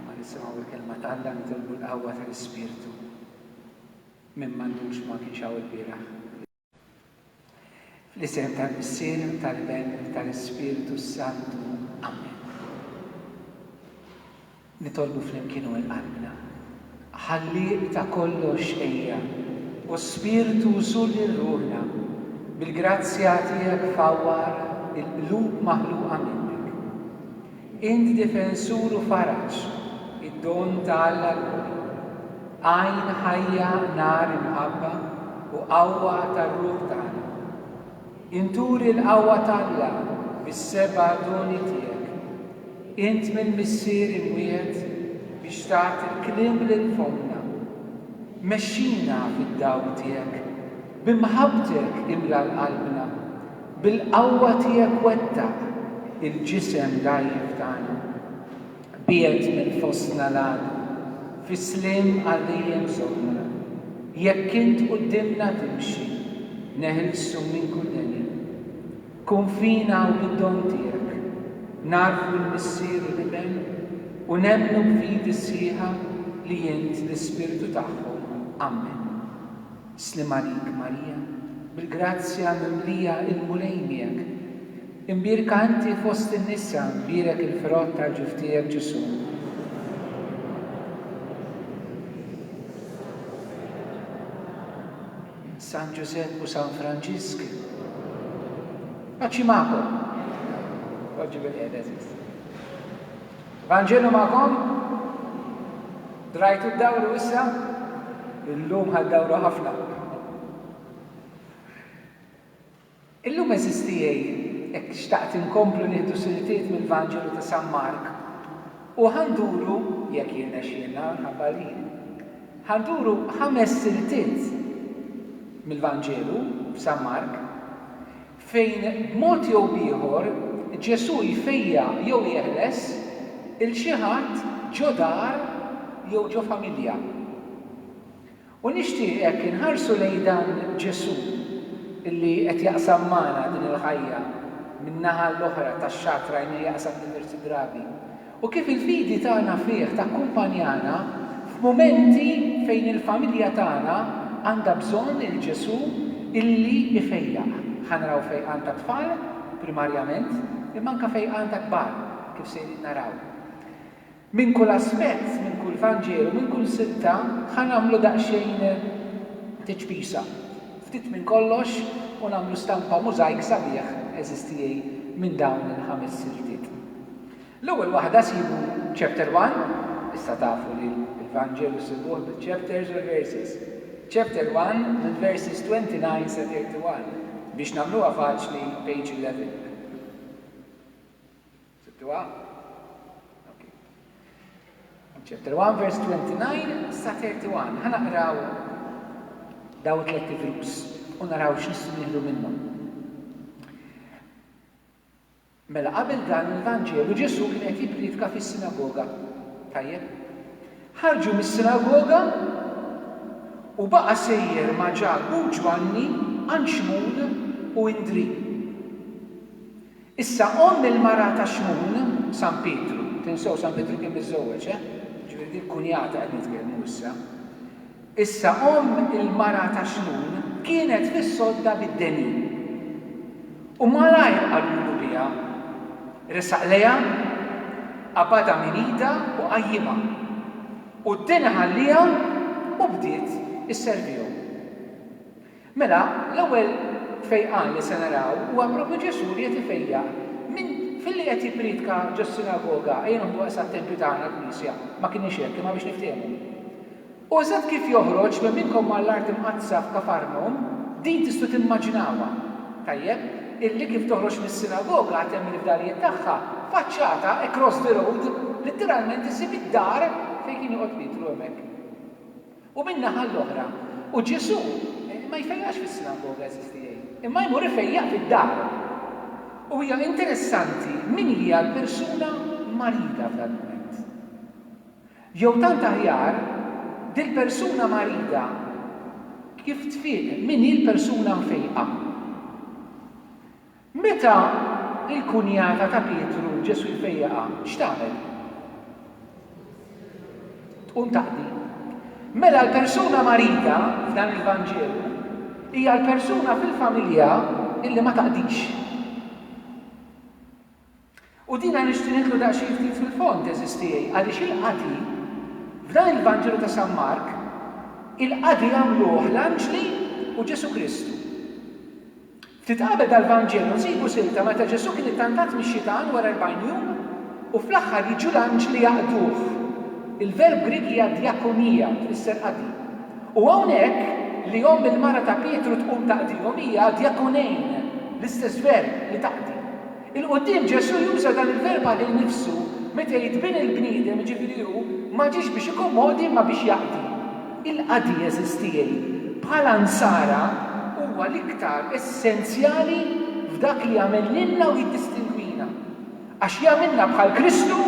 Imma nisimgħu l-Kelma ta' Alla nitolbu l-qawwa tal-Ispirtu. Min m'għandux ma kienx hawn il-bieraħ. Fl-isem tal-Missier, tal-Ben, tal-Ispirtu s-Santu. Amen. Nitolbu flimkien u l-qalbna. Ħallieq ta' kollox ejja, u Spirtu Suli rrulna, bil-grazzja tiegħek fawwar il-qlub maħluqa minnek. Int difensur u faraġ, id-don ta' Alla l-Għoli. Għajn ħajja nar imħabba u qawwa tar-ruħ tagħna. Int turi l-qawwa t'Alla bis-seba' doni tiegħek. Int mill-Missier imwiegħed biex tagħti l-kliem lil fommna. Mexxina fid-dawl tiegħek. B'imħabbtek imla' l-qalbna. Bil-qawwa tiegħek wettaq il-ġisem dgħajjef tagħna. Biegħed minn fostna l-għadu. Fis-sliem għal dejjem żorna. Jekk int quddiemna timxi. Neħilsu minn kull deni. Kun fina u bid-don tiegħek. Nagħrfu l-Missier u l-Iben u nemmnu b'fidi sħiħa li int l-Ispirtu tagħhom. Ammen. Sliem għalik, Marija, bil-grazzja mimlija il-Mulej miegħek. Imbierka inti fost in-nisa, mbierek il-frott tal-ġuf tiegħek Ġesù. San Ġużepp u San Franġisk. Paċi magħkom. Oġġi bil-qiegħda, Vanġelu magħkom? Drajtu d-dawru issa? Illum ħa d-dawru ħafna. Illum għeżież tiegħi jekk xtaqt inkomplu nieħdu siltiet mill-Vanġelu ta' San Mark u ħa nduru, jekk jirnexxielna minħabba li jien, ħa nduru ħames siltiet mill-Vanġelu f'San Mark. fejn b'mod jew b'ieħor Ġesù jfejjaq jew jeħles 'il xi ħadd ġo dar jew ġo familja. U nixtieq hekk inħarsu lejn dan Ġesù li qed jaqsam magħna din il-ħajja min-naħa l-oħra tax-xatt rajnieh jaqsam diversi drabi. u kif il-fidi tagħna fih takkumpanjana f'mumenti fejn il-familja tagħna għandha bżonn il-Ġesù illi jfejjaq. Ħa naraw fejqan tat-tfal, primarjament, imma anke fejqan ta' kbar, kif sejrin naraw. Minn kull aspett, minn kull Vanġelu, minn kull silta, ħa nagħmlu daqsxejn tiċpisa, ftit minn kollox, u nagħmlu stampa mużajk sabiħ, għeżież tiegħi, minn dawn il-ħames siltiet. L-ewwel waħda sibu Chapter One, issa tafu li l-Vanġelu ssibuh bil-chapters u l-verses. Chapter One mill-verses 29 sa 31, biex nagħmluha faċli page 11. Sibtuha? Ok. Chapter One verse 29 sa 31. Ħa naqraw daw it-tliet ivrus u naraw x'nistgħu nieħdu minnhom. Mela qabel dan il-Vanġelu Ġesù kien qed jippriedka fis-sinagoga. Tajjeb? Ħarġu mis-sinagoga u baqa' sejjer ma' Ġakbu u Ġwanni għand Xmun u Indrì. Issa omm il-mara ta' Xmun, San Pietru, tinsew San Pietru kien miżżewweġ, eh? Jiġifieri dik kunjata qed nitkellmu issa. Issa omm il-mara ta' Xmun kienet fis-sodda bid-denin. U malajr qalulu biha. Resaq lejha, qabadha minn idha u qajjimha. U d-deni ħalliha u bdiet isservihom. Mela, l-ewwel fejqan li se naraw huwa propju Ġesù li qed ifejjaq minn filli qed jippriedka ġos-sinagoga, ejja noħduha sa t-tempju tagħna, l-knisja, ma kinitx hekk, imma biex niftiehmu. U eżatt kif joħroġ minn minnkom għall-art imqaddsa f'Kafarnum, din tistgħu timmaġinawha, tajjeb, illi kif toħroġ mis-sinagoga għad hemm il-fdalijiet tagħha, faċċata, across the road, litteralment issib id-dar fejn kien joqgħod Pietru hemmhekk. U min-naħa l-oħra, u Ġesù ma jfejjaqx fis-sinagoga, għażiż tiegħi, imma jmur ifejjaq fid-dar. U hija interessanti min hija l-persuna marida f'dal-mument. Jew tant aħjar, dil-persuna marida kif tfiq, min hi l-persuna mfejqa? Meta l-kunjata ta' Pietru, Ġesù jfejjaqha, x'tagħmel? Tqum taqdi. Mela l-persuna marida f'dan il-Vanġelu hija l-persuna fil-familja illi ma taqdix. U dina nixtieq nidħlu daqsxejn ftit fil-fond, għeżież tiegħi, għaliex il-qadi, f'dan il-Vanġelu ta' San Mark, il-qadi għamluh l-anġli u Ġesù Kristu. Ftit qabel dal-Vanġelu nsibu silta meta Ġesù kien ittantat mix-xitan wara erbgħin jum u fl-aħħar jiġu l-anġli jaqduh. Il-verb Grieg hija diakonia u tfisser qadi. U hawnhekk li omm il-mara ta' Pietru tqum taqdihom hija diakonein, l-istess verb, li taqdi. 'il quddiem Ġesù juża dan il-verb għalih nnifsu meta jgħid bin il-bniedem, jiġifieri hu, ma ġiex biex ikommodi imma biex jaqdi. Il-qadi, għeżież tiegħi, bħala Nsara huwa l-iktar essenzjali f'dak li jagħmel lilna u jiddistingwina. Għax jagħmilna bħal Kristu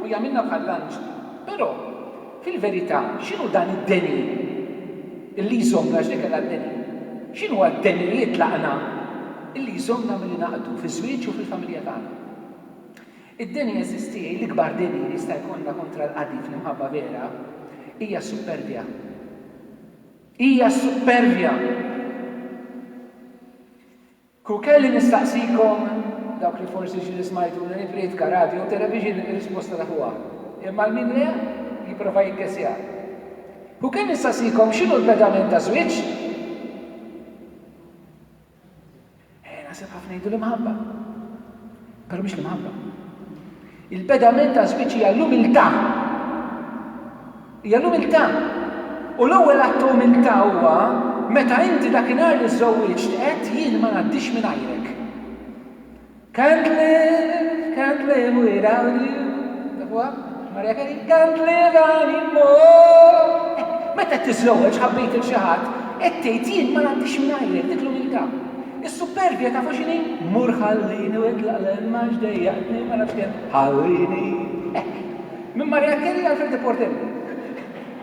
u jagħmilna bħall-anġli. Però. Fil-verità, x'inhu dan id-deni li jżommna, għax dik kellha d-deni, x'inhuwa d-deni li jitlaqna li jżommna milli naqdu fiż-żwieġ u fil-familja tagħna? Id-deni jeżisti, l-ikbar deni li jista' jkollna kontra l-qadi fl-imħabba vera hija s-suppervja. Hija s-suppervja! Kieku kelli nistaqsikom, dawk li forsi x'ġili smajtuni nippriedka radju jew television, ir-risposta tafuha. Imma 'l min le, jipprova jiggessja. Kieku kelli nistaqsikom x'inhu l-pedament taż-żwieġ? Eh, naħseb ħafna jgħidu l-imħabba. Però mhix l-imħabba. Il-pedament għaż-żwieġ hija l-umiltà. Hija l-umiltà. U l-ewwel att ta' umiltà huwa meta inti dakinhar li żżewwiġt għedt jien ma ngħaddix mingħajrek. Can't live, can't live without you. Tafuha? Maria Carey? Can't live anymore. Meta qed tiżżewweġ ħabbejt il xi ħadd, qed tgħid jien ma ngħaddix mingħajrek, dik l-umiltà. Is-supperbja tafu x'inhi? Mur ħallini u itlaq l-hemm għax dejjaqtni ma nafx kemm. Ħallini! Hekk. Minn Mariah Carey għal Freddy Portelli.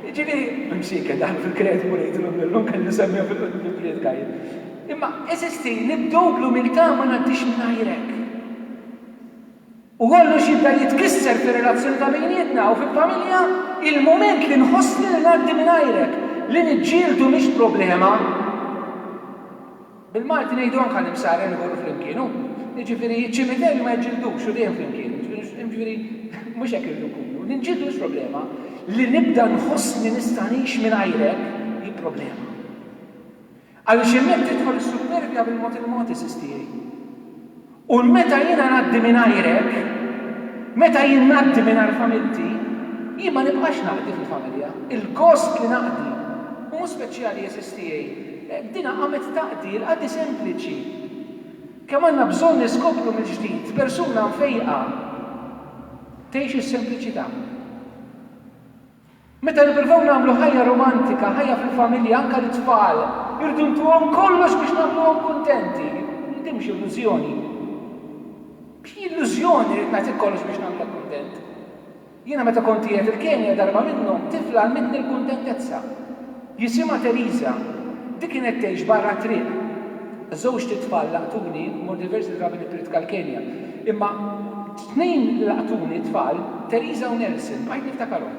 Jiġifieri, imsiekel daħlu fil-kredu u ngħidilhom lilhom kelli nsemmiha fil-priedka jien. Imma, eżisti, nibdew bl-umiltà ma ngħaddix mingħajrek. U kollox jibda jitkisser fir-relazzjoni ta' bejnietna u fil-familja il-mument li nħossni li ngħaddi mingħajrek. Li niġġieldu mhix problema. Bil-Malti ngħidu anke l-imsarren imorru flimkien, hu? Jiġifieri ċ-ċimiterju ma jiġġildux u dejjem flimkien. Jiġifieri mhux hekk irridu nkunu. Li nġildu mhix problema. Li nibda nħossni nista' ngħix mingħajrek hi problema. Għaliex hemmhekk tidħol is-supperbja bil-mod il-mod, għeżież tiegħi. U meta jiena ngħaddi mingħajrek, meta jien ngħaddi mingħajr familti, jien ma nibqax naqdi fil-familja. Il-gost li naqdi u mhu speċjali, għeżież tiegħi. Dina qamet taqdi, il-qadi sempliċi. Kemm għandna bżonn niskopru mill-ġdid persuna mfejqa tgħix is-sempliċità. Meta nippruvaw nagħmlu ħajja romantika, ħajja fil-familja, anke lit-tfal, irridu ntuhom kollox biex nagħmluhom kuntenti. Imma din mhix illużjoni. X'hi illużjoni rrid nagħtik kollox biex nagħmlek kuntent? Jiena meta kont qiegħed il-Kenja darba minnhom, tifla għallmitni l-kuntentezza. Jisimha Teresa. Di kienet tgħix barra t-triq. Żewġt itfal laqtuni, mort diversi drabi nippriedka l-Kenja. Imma t-tnejn li laqtuni tfal, Teresa u Nelson, bqajt niftakarhom.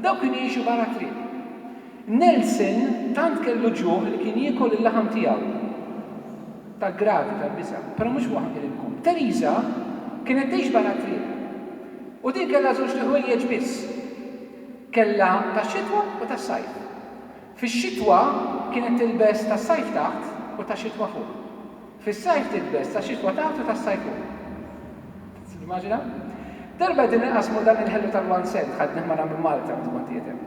Dawk kienu jgħixu barra t-triq. Nelson tant kellu ġuħ li kien jiekol il-laħam tiegħu. Tal-gravi, tal-biża'. Però mhux waħd iridkom. Teresa kienet tgħix barra t-triq. U din kellha żewġt ħwejjeġ biss. Kellha tax-xitwa u tas-sajf. Fix-xitwa kienet tilbes tas-sajf taħt u tax-xitwa fuq. Fis-sajf tilbes tax-xitwa taħt u tas-sajf fuq. Timmaġina? Darba qegħdin inqassmu dan il-ħelu tal-one cent, ħadt nieħma nagħmlu l-malta meta kont qiegħed hemm.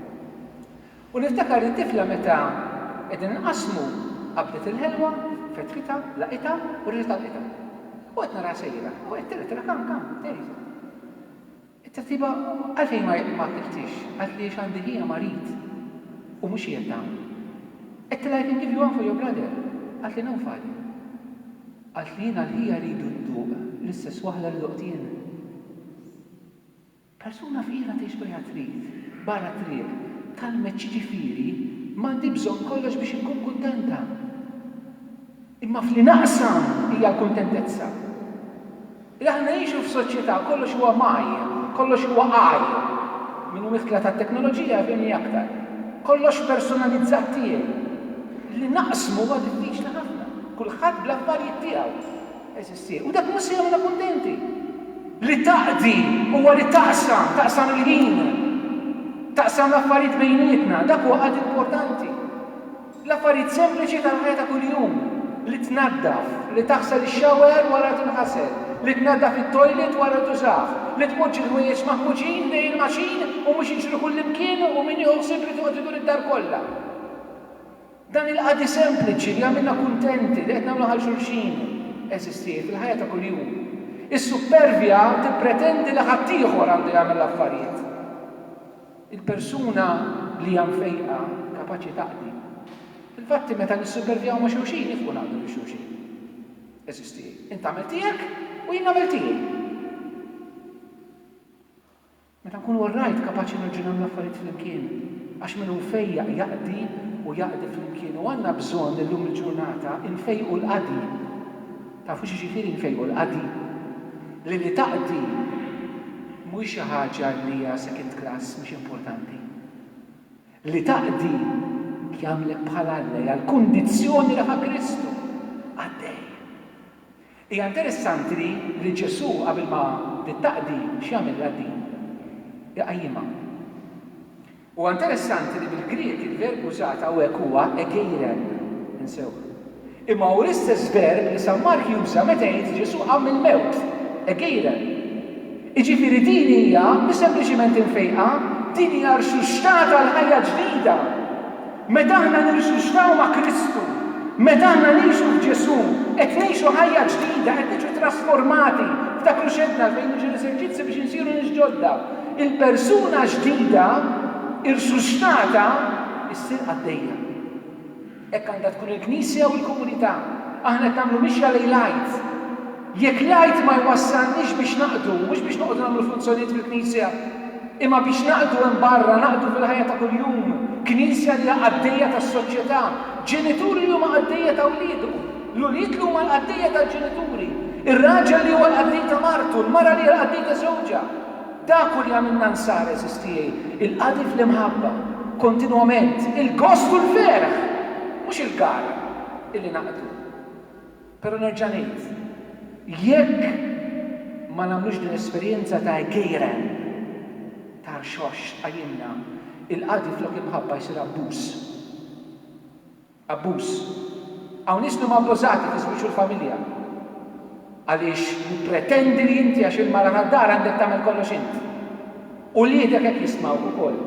U niftakar li tifla meta qegħdin inqassmu qabdet il-ħelwa, fetħitha, laqitha u reġgħet għalqitha. U qed naraha sejra u qed telgħet, telgħet, come, come, there he is. It-tabtiba għalfejn ma akiltiex? Qalt li għax għandi ħija marid u mhux qiegħed hawn. Qed tilha I can give you one for your brother. Qalt li no father. Qalt li jien għal ħija rridu nduq l-istess waħda li doqt jien. Persuna fqira tgħix bejha trid, barra t-triq, tgħallmet x'jiġifieri m'għandi bżonn kollox biex inkun kuntenta. Imma f'li naqsam hija l-kuntentezza. Li aħna ngħixu f'soċjetà kollox huwa mgħajjem, kollox huwa għajjem. Minn witla tat-teknoloġija jafhimni aktar. Kollox personalizzat tiegħi. Li naqsmu huwa diffiċli ħafna. Kulħadd bl-affarijiet tiegħu. Għeżież tiegħi. U dak mhux se jagħmilna kuntenti. Li taqdi huwa li taqsam, taqsam il-ħin, taqsam l-affarijiet bejnietna. Dak huwa qadi importanti. L-affarijiet sempliċi tal-ħajja ta' kuljum, li tnaddaf, li taħsel ix-shower wara li tinħasel, li tnaddaf it-toilet wara li tużah, li tpoġġi l-ħwejjeġ maħmuġin dej il-maċin u mhux jiġru kullimkien u min jieħu ħsieb irid joqgħod idur id-dar kollha. Dan il-qadi sempliċi li jagħmilna kuntenti, li qed nagħmlu ħal xulxin, eżistih fil-ħajja ta' kuljum. Is-suppervja tippretendi li ħaddieħor għandu jagħmel l-affarijiet. Il-persuna li hija mfejqa kapaċi taqdi. Fil-fatti, meta nissupervjaw ma' xulxin, nifqu naqdu lil xulxin. Eżisti, int tagħmel tiegħek u jien nagħmel tiegħi. Meta nkunu orrajt, kapaċi nirġinaw l-affarijiet flimkien, għax min hu mfejjaq jaqdi u jaqdi flimkien u għandna bżonn illum il-ġurnata nfejqu l-qadi. Tafu x'jiġifieri nfejqu l-qadi? Li li taqdi mhuwiex xi ħaġa li hija second class mhux importanti. Li taqdi jagħmlek bħal Alla, hija l-kundizzjoni li ħa Kristu qaddej. Hija interessanti li li Ġesù qabel ma li taqdi x'jagħmel il-qaddin? Iqajjimha. Huwa interessanti li bil-Grieg il-verb użat hawnhekk huwa egeiren, insewh. Imma hu l-istess verb li San Mark juża meta jgħid Ġesù qam mill-mewt, egeiren. Jiġifieri din hija mhix sempliċiment infejqa, din hija rxuxtata għal ħajja ġdida! Meta aħna ngħixu x'naw ma' Kristu, meta aħna ngħixu f'Ġesù, qed ngħixu ħajja ġdida, qed niġu trasformati f'dak li xehdna fejn niġu l-eżerċizzji biex insiru nies ġodda. Il-persuna ġdida, irsuxtata, issir qaddejja. Hekk għandha tkun il-Knisja u l-komunità. Aħna qed nagħmlu mixja lejn l-Għid. Jekk l-Għid ma jwassalniex biex naqdu, mhux biex noqogħdu nagħmlu funzjonijiet fil-Knisja, imma biex naqdu hemm barra, naqdu fil-ħajja ta' kuljum, Knisja li hija qaddejja tas-soċjetà, ġenituri li huma qaddejja ta' wliedu, l-ulied li huma l-qaddejja tal-ġenituri, ir-raġel li huwa l-qaddej ta' martu, l-mara li hija l-qaddej ta' żewġha, dak hu li jagħmilna Nsara, għeżież tiegħi, il-qadi fl-imħabba, kontinwament, il-gost u l-ferħ, mhux il-gara, illi naqdu. Però nerġa' ngħid, jekk ma nagħmlux din l-esperjenza ta' gejren, ta' rxox tqajjimna, il-qadi flok imħabba jsir abbuż. Abbuż. Hawn nies li huma abbużati fiż-żwieġ u l-familja. Għaliex tippretendi li inti għax il-mara tad-dar għandek tagħmel kollox int. Uliedek hekk jistmawk ukoll.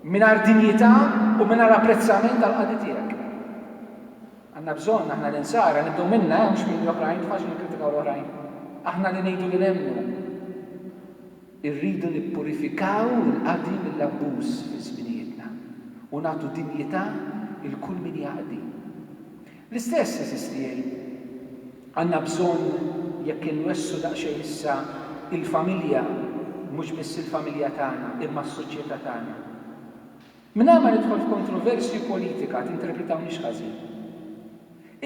Mingħajr dinjità u mingħajr apprezzament għall-qadi tiegħek. Għandna bżonn, aħna l-Insara, nibdew minna, eh, mhux minn l-oħrajn, mhux faċli nikkritikaw l-oħrajn. Aħna li ngħidu li nemmnu. Irridu nippurifikaw il-qadi mill-abbuż fi żminijietna u nagħtu dinjità 'l kull min jaqdi. L-istess, għeżież tiegħi, għandna bżonn jekk inwessgħu daqsxejn issa il-familja, mhux biss il-familja tagħna, imma s-soċjetà tagħna. Mingħajr ma nidħol f'kontroversji u politika, tinterpretawniex ħażin.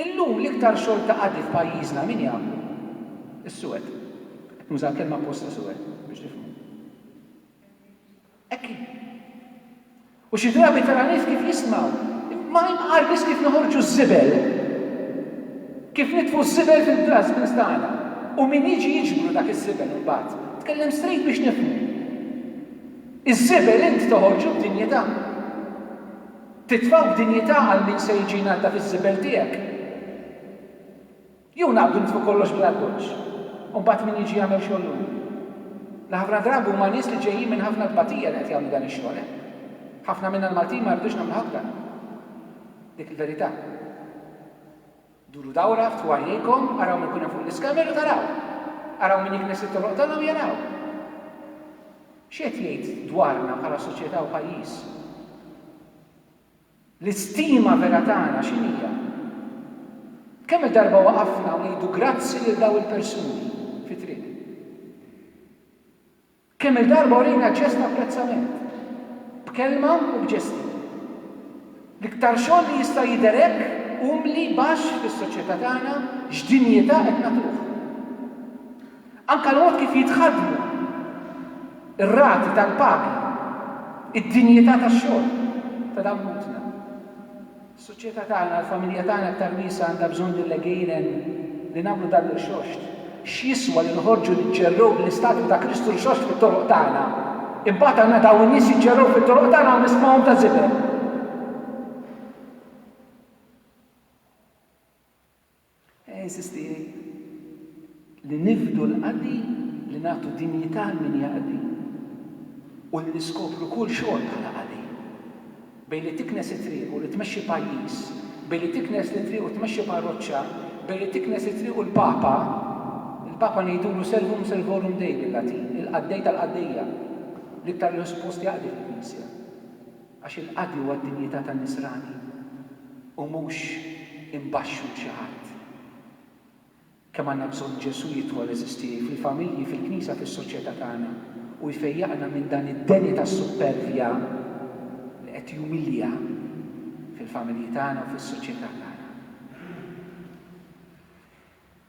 Illum l-iktar xogħol ta' qadi f'pajjiżna min jagħmlu? Is-suwed. Qed nuża l-kelma apposta suwed biex tifhmu. Hekk hi. U xi drabi tara nies kif jismgħu, imma imqar biss kif noħorġu ż-żibel. Kif nitfu ż-żibel fil-dustbins tagħna u min jiġi jiġbru dak iż-żibel imbagħad. Tkellem straight biex nifhmu. Iż-żebel int toħorġu b'dinjità. Titfgħu b'dinjità għal min se jiġi jnaddaf iż-żebel tiegħek. Jew naqbdu nitfgħu kollox bl-appoġġ, u mbagħad min jiġi jagħmel xogħol hu? Li ħafna drabi huma nies li ġejjin minn ħafna tbatija li qed jagħmlu dan ix-xogħol, eh? Ħafna minna l-Maltin ma jridux nagħmluh aktar. Dik il-verità. Duru dawra, ftħu għajnejkom, araw min ikun hemm fuq l-iskamel u taraw. Araw min jiknes it-toroq tagħna u jaraw. X'qed jgħid dwarna bħala soċjetà u pajjiż? L-istima vera tagħna x'inhija? Kemm-il darba waqafna u ngħidu grazzi lil dawn il-persuni fit-triq? Kemm-il darba urina ġest ta' apprezzament, b'kelma u b'ġesti. L-iktar xogħol li jista' jidher hekk umli, baxx fis-soċjetà tagħna, x'dinjità qed nagħtuh. Anke l-mod kif jitħaddmu, ir-rati tal-pagi, id-dinjità tax-xogħol ta' dan ħutna. Is-soċjetà tagħna, l-familja tagħna aktar wiesgħa għandha bżonn din l-għejnen li nagħmlu dan l-irxoxt. X'jiswa li noħorġu niġġerrew bl-istatwi ta' Kristu rxoxt fit-toroq tagħna, imbagħad għandna dawn in-nies jiġġerrew fit-toroq tagħna u nismgħuhom ta' żibel? Insisti li nifdu l-qadi, li nagħtu dinjità għal min jaqdi u li niskopru kull xogħol bħala qadi. Bejn li tiknes it-triq u li tmexxi pajjiż, bejn li tiknes it-triq u tmexxi parroċċa, bejn li tiknes it-triq u l-Papa, il-Papa ngħidulu Servum servorum Dei bil-Latin, il-qaddej tal-qaddejja, l-iktar li hu suppost jaqdi fil-Knisja. Għax il-qadi huwa d-dinjità tan-nisrani u mhux imbaxxu 'l xi ħadd. Kemm għandna bżonn Ġesù jidħol, għeżież tiegħi, fil-familji, fil-Knisja, fis-soċjetà tagħna u jfejjaqna minn dan id-deni tas-suppervja li qed jumilja fil-familji tagħna u fis-soċjetà tagħna.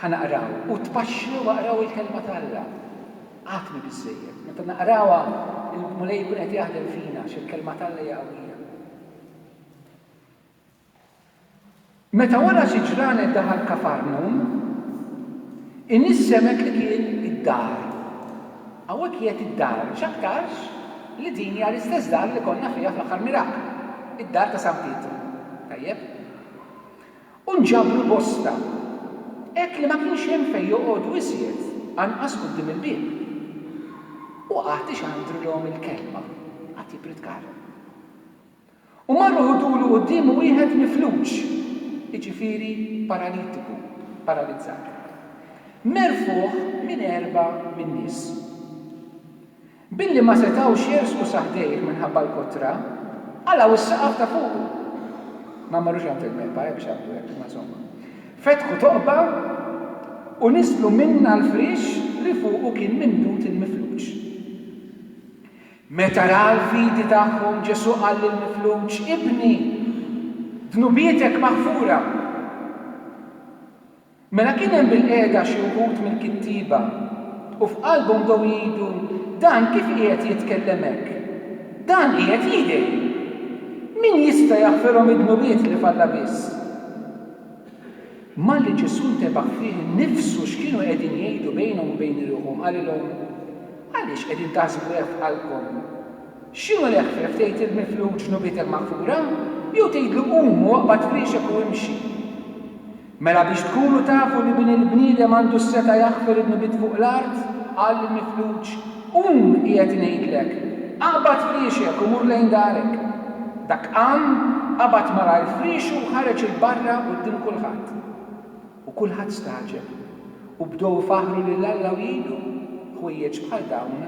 Ħa naqraw, u tpaxxlu u aqraw il-Kelma ta' Alla. Għatni biżżejjed. Meta naqrawha, il-Mulej ikun qed jaħdem fina għax il-Kelma ta' Alla hija qawwija. Meta wara xi ġranet daħal Kafarnum, in-nies semgħet li kien id-dar. Hawnhekk jgħid id-dar, x'aktarx li din hija l-istess dar li konna fiha fl-aħħar miraklu, id-dar ta' San Pietru. Tajjeb? U nġabru bosta, hekk li ma kienx hemm fejn joqogħdu iżjed, anqas quddiem il-bieb. U qagħad ixandrulhom il-kelma, qagħad jippritkalhom. U marru ħudulu quddiemu wieħed mifluġ, jiġifieri paralitiku, paralizzat, merfugħ minn erbgħa min-nies. Billi ma setgħux jersqu sa ħdejh minħabba l-kotra, qalgħu s-saqaf ta' fuqu. Ma marrux għand il-mehba, eh, biex jagħmlu hekk, imma insomma. Fetħu toqba u niżlu minnha l-friex li fuqu kien mimdud il-mifluġ. Meta ra l-fidi tagħhom, Ġesù qal lill-mifluġ, Ibni, dnubietek maħfura. Mela kien hemm bilqiegħda xi wħud mill-kittieba, u f'qalbhom bdew jgħidu, Dan kif qiegħed jitkellem hekk? Dan qiegħed jidgħi! Min jista' jaħfirhom id-dnubiet li f'Alla biss? Malli Ġesù ntebaħ fih innifsu x'kienu qegħdin jgħidu bejnhom u bejn iriħhom, qalilhom, Għaliex qegħdin taħsbu hekk f'qalbkom? X'inhu l-eħfef, tgħid lill-mifluġ, 'Dnubietek maħfura', jew tgħidlu, 'Qum u oqbad frixek u imxi'? Mela biex tkunu tafu li Bin il-bniedem għandu s-setgħa jaħfer in-nbiet fuq l-art, qal lill-mifluġ, Qum, qiegħed ngħidlek, aqbad friexek u mur lejn darek. Dak qam, qabad malajr friexu u ħareġ 'il barra quddiem kulħadd. U kulħadd stagħġeb, u bdew ifaħħru lil Alla u jgħidu, Ħwejjeġ bħal dawn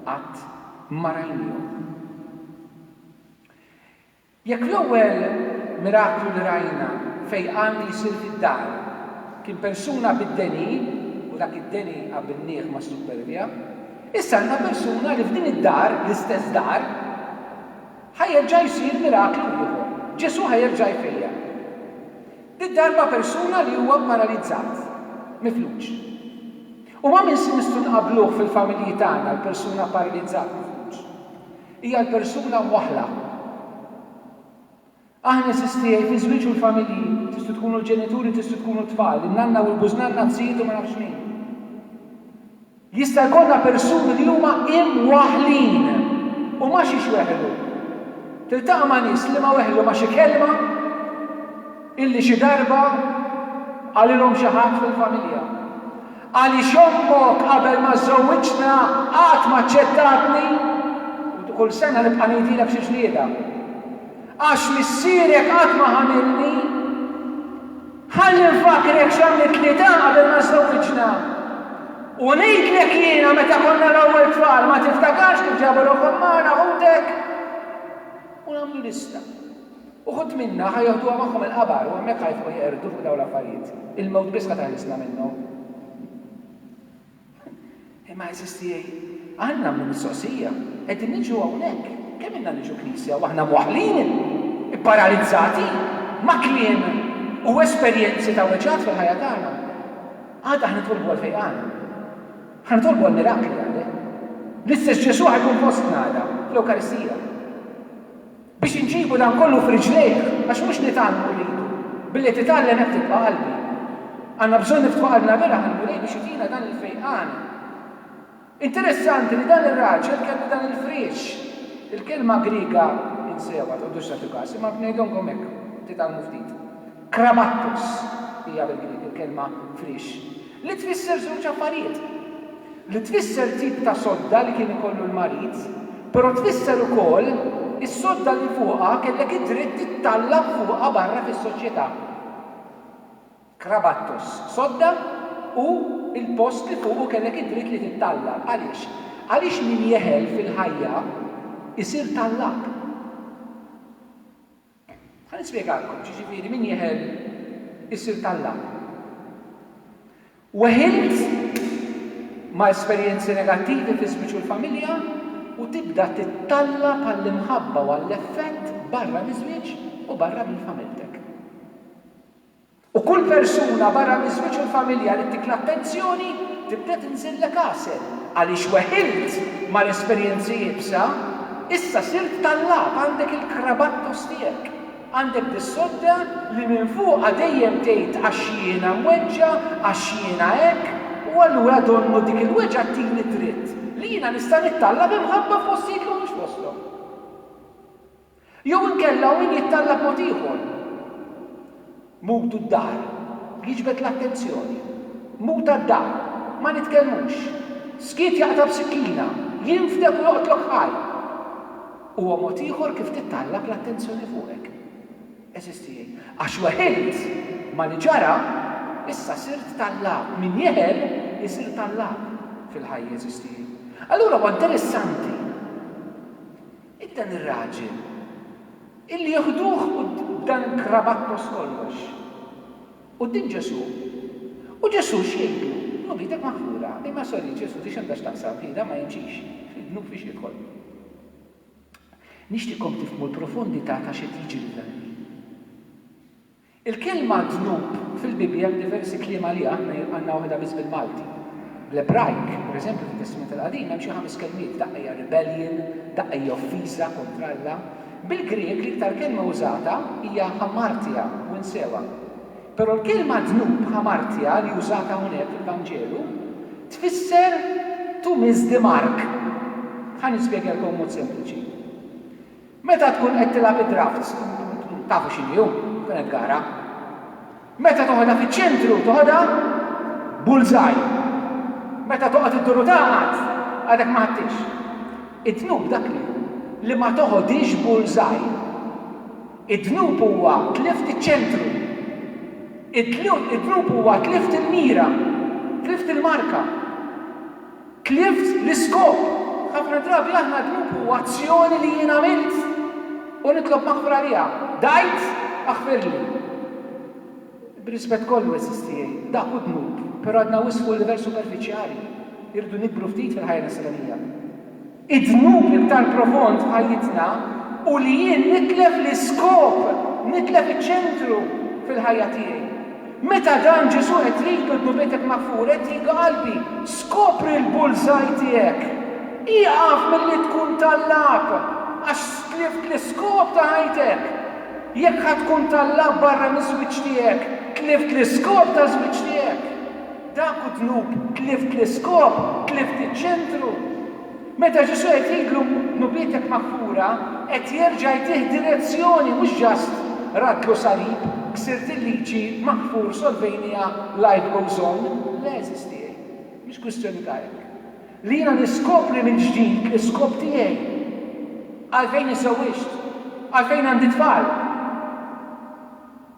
qatt ma rajnihom. Jekk l-ewwel miraklu li rajna fejqan li jsir fid-dar kien persuna bid-deni, u dak id-deni qabbilnieh mas-suppervja, issa għandna persuna li f'din id-dar, l-istess dar, ħa jerġa' jsir miraklu ieħor. Ġesù ħa jerġa' jfejjaq. Did-darba persuna li huwa pparalizzat, mifluġ. U ma' min nistgħu nqabbluh fil-familji tagħna l-persuna pparalizzat mifluġ? Hija l-persuna mwaħħla. Aħna insisti jgħid iż-żwieġ u l-familji, tistgħu tkunu l-ġenituri tistgħu tkunu t-tfal, in-nanna u l-bużnanna, t-zijiet u ma nafx min. Jista' jkollna persuni li huma imwaħħlin u ma xiex weħlu. Tiltaqa' ma' nies liema weħlu ma' xi kelma illi xi darba qalilhom xi ħadd fil-familja. Għaliex ommok qabel ma żżewwiġtna qatt ma aċċettatni u kull sena nibqa' ngħidilek xi ġlieda? Għax missierek qatt ma ħamilni? Ħalli nfakkrek x'għamlitlni ta' qabel ma żżewwiġna. U ngħidlek jiena meta konna l-ewwel tfal ma tiftakarx kif ġabu ruħhom magħna ħutek? U nagħmlu lista. Uħud minna ħa joħduha magħhom il-qabar u hemmhekk ħa jifqu jeqirdu fuq dawn l-affarijiet. Il-mewt biss ħa teħlisna minnhom. Imma għeżież tiegħi, għan nagħmlu mistoqsija, qegħdin niġu hawnhekk, kemm ilna niġu Knisja u aħna mwaħħlin, ipparalizzati, ma' kliem u esperjenzi ta' weġgħat fil-ħajja tagħna? Għada ħa nitolbu għall-fejqan. Ħa nitolbu għal mirakli, għalli. L-istess Ġesù ħa jkun fostna għada, fl-Ewkaristija. Biex inġibu dan kollu f'riġlejh, għax mhux nitgħallmu rridu, billi titgħallem hekk tibqa' qalbi. Għandna bżonn niftħu qalbna veraħ lill-Mulej biex itina dan il-fejqan. Interessanti li dan ir-raġel kellu dan il-friex. Il-kelma Griega, insewha, tqogħdux tagħtu kas, imma ngħidhomkom hekk, titgħallmu ftit. Krabattos hija bil-Grieg il-kelma friex. Li tfisser żewġ affarijiet. Li tfisser tip ta' sodda li kien ikollu l-marid, però tfisser ukoll is-sodda li fuqha kellek id-dritt tittallab fuqha barra fis-soċjetà. Krabattos, sodda u l-post li fuqu kellek id-dritt li tittallab. Għaliex? Għaliex min jeħel fil-ħajja jsir tallab. Ħa nispjegalkom x'jiġifieri min jeħel isir t'Alla. Weħilt ma' esperjenzi negattivi fi żwieġ u l-familja u tibda tittalla' bħall-imħabba u għall-effett barra miż-żwieġ u barra mill-familtek. U kull persuna barra miż-żwieġ u l-familja li titlab pensjoni tibda tinżillek għasel għaliex weħilt mal-esperjenzi iebsa, issa sirt tallab għandek il-krabattos tiegħek, għandek dis-sodda li minn fuqha dejjem tgħid għax jiena mweġġa', għax jiena hekk, u allura donnu dik il-weġgħa ttini d-dritt li jiena nista' nittalla' b'imħabba f'postijiet li mhumiex posthom. Jew inkella hu min jittalla b'mod ieħor. Mutu d-daħr. Jiġbed l-attenzjoni. Muta d-daħr. Ma nitkellmux. Skiet jaqta' b'sikkina. Jinfdek u joqtlok ħaj. Huwa mod ieħor kif tittallab l-attenzjoni fuqek. Għeżież tiegħi, għax weħilt ma' li ġara, issa sirt tallab. Min jeħel isir tallab fil-ħajja, għeżież tiegħi. Allura huwa interessanti. Id dan ir-raġel! Illi joħduh b'dan il-krabattos kollox! Quddiem Ġesù! U Ġesù x'jgħidlu? Dnub idek maħfura. Imma sorry Ġesù, di x'għandha x'taqsam, hi dan ma jimxix. Fid-dnub fiex jidħol? Nixtieqkom tifhmu l-profondità ta' x'qed jiġri f'dan il-ħin. Il-kelma dnub fil-Bibbja hemm diversi kliem għaliha, aħna għandna waħedha biss bil-Malti. Bl-Ebrajk, pereżempju fit-Testment il-Qadim hemm xi ħames kelmiet, daqqa hija rebellion, daqqa hija offiża kontra Alla. Bil-Grieg l-iktar kelma użata hija hamartia, winsewa. Però l-kelma dnub, hamartia, li użata hawnhekk fil-Vanġelu, tfisser to miss the mark. Ħa nispjegalkom b'mod sempliċi. Meta tkun qed tilgħab id-drafts intom tafu x'inhi hu, tkun qed tgara. Meta toħodha fiċ-ċentru toħodha bullseye. Meta toqgħod iddur u tagħqad, għadek ma ħadthiex. Id-dnub dak li hu li ma toħodhiex bullseye. Id-dnub huwa tlift iċ-ċentru. Id-dnub huwa tlift il-mira, tlift il-marka. Clift l-iskop! Ħafna drabi aħna dnub hu azzjoni li jien għamilt u nitlob maħfra għaliha. Dgħajt? Aħfirli. Bir-rispett kollu, għeżież tiegħi, dak hu dnub, però għadna wisq fuq livell superfiċjali. Irridu nikbru ftit fil-ħajja Nisranija. Id-dnub iktar profond f'ħajjitna hu li jien nitlef l-iskop, nitlef iċ-ċentru fil-ħajja tiegħi. Meta dan Ġesù qed jgħidu dnubitek maghfura qed jgħidu qalbi, skopri l-bullseye tiegħek. Ieqaf milli tkun tallab għax tlift l-iskop ta' ħajtek. Jekk ħa tkun tallab barra miż-żwieġ tiegħek, tlift l-iskop ta' żwieġ tiegħek. Dak hu dnub, tlift l-iskop, tlift iċ-ċentru. Meta Ġesù jgħidlilu dnubietek maghfura, qed jerġa' jtih direzzjoni mhux just raddlu salib, ksirt il-liġi, maghfur, solvejniha, life goes on. Le għeżież tiegħi, mhix kwistjoni ta' hekk. Li jiena niskopri mill-ġdid l-iskop tiegħi. Għalfejn iżżewwiġt? Għalfejn għandi tfal?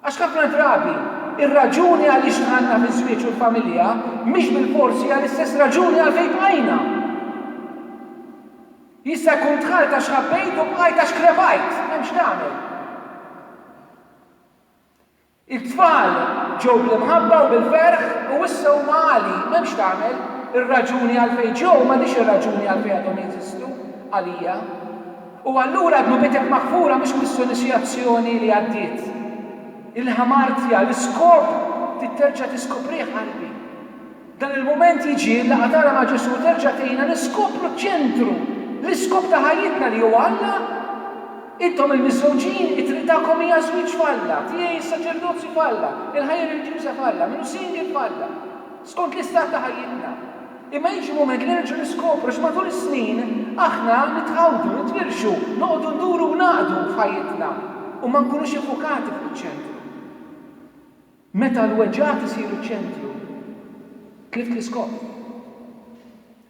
Għax ħafna drabi, ir-raġuni għaliex dħalna fiż-żwieġ u l-familja mhix bilfors hija l-istess raġuni għalfejn bqajna. Jista' jkun dħalt għax ħabbejt u bqajt għax krepajt, m'hemm x'tagħmel. It-tfal ġew bl-imħabba u bil-ferħ u issa huma għali, m'hemm x'tagħmel, ir-raġuni għalfejn ġew m'għadhiex ir-raġuni għalfejn għadhom jeżistu għalija. U allura dnubitek maħfura mhux kwistjoni xi azzjoni li għaddiet. Il-hamartia, l-iskop trid terġa' tiskoprih qalbi. Dan il-mument jiġi, il-laqgħa tagħna ma' Ġesù terġa' tgħinna niskopru ċ-ċentru, l-iskop ta' ħajjitna li huwa Alla. Intom il-miżżewġin, it-triq tagħkom hija ż-żwieġ f'Alla, tiegħi s-saċerdozju f'Alla, il-ħajja reliġjuża f'Alla, min hu single f'Alla. skont l-istat ta' ħajjitna. Imma jiġi mument li nerġgħu niskopru x'matul is-snin aħna nitħawdu, nitwirxu, noqogħdu nduru u ngħaqdu f'ħajjitna u ma nkunux iffukati fuq iċ-ċentru. Meta l-weġgħat isiru ċ-ċentru, tlift l-iskop.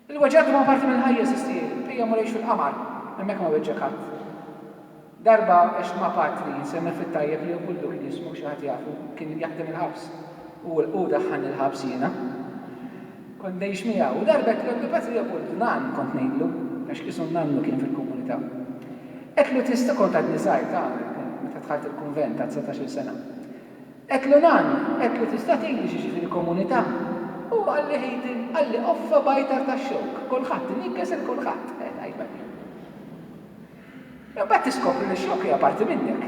Il-weġgħat huma parti mill-ħajja, sistieri. Ejja mmur ngħixu l-qamar. Hemmhekk ma weġġgħek ħadd. Darba għext ma' patri, nsemmih fit-tajjeb li Leopuldu kien jismu, xi ħadd jafu, kien jaħdem il-ħabs. Hu daħħalni l-ħabs jiena. Kont ngħix miegħu. U darba għedtlu, Ebbi patri Leopoldu, nan, kont ngħidlu, għax qisu n-nannu kien fil-komunità. Għedtlu, Tista' kont għadni żgħir, tagħmel, kien meta dħalt il-kunvent, ta' dsatax-il sena. Għedt li nan, għedt li tista' tgħidli x'jiġifieri komunità? Hu qalli ħitin, qalli qoffa b'għajtar ta' xewk, kulħadd iniggħes 'il kulħadd, eh, tajba din. Imbagħad tiskopri li x-xewk hija parti minnek.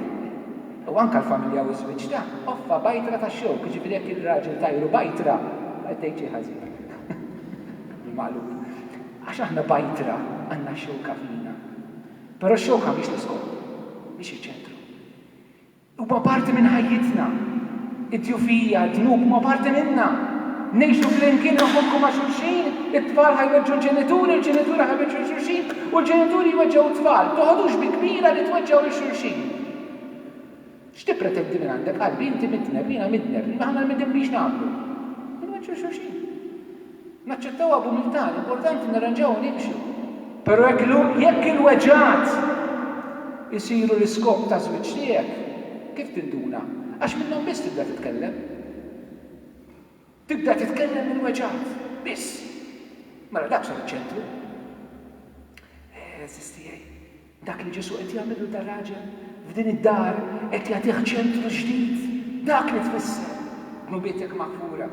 U anke l-familja u ż-żwieġ ta', qoffa b'għajtra ta' xewk, jiġifieri jekk ir-raġel tajru b'għajtra, qed tgħid xi ħażin, bil-maqlub, għax aħna b'għajtra għandna x-xewka fina. Però x-xewka mhix l-iskop, mhix iċ-ċentru. Huwa parti minn ħajjitna. Id-djufija, d-dnub huma parti minna. Ngħixu flimkien, inħobbu ma' xulxin, it-tfal ħa jweġġu l-ġenituri, l-ġenituri ħa jweġġu lil xulxin u l-ġenituri jweġġgħu t-tfal. Toħodux bi kbira li tweġġgħu lil xulxin. X'tippretendi mingħandek, qalbi? Inti midneb, jiena midneb, aħna midnbin x'nagħmlu? Inweġġu lil xulxin. Naċċettawha b'umiltà, l-importanti nirranġaw u nimxu. Però jekk il-weġgħat isiru l-iskop taż-żwieġ tiegħek, kif tinduna? Għax minnhom biss tibda titkellem. Tibda titkellem mill-weġgħat. Biss. Mela dak sar iċ-ċentru. Eżiż tiegħi. Dak li Ġesù qed jagħmel lil dar-raġel f'din id-dar qed jagħtih ċentru ġdid. Dak li tfisser, Dnubietek maħfura.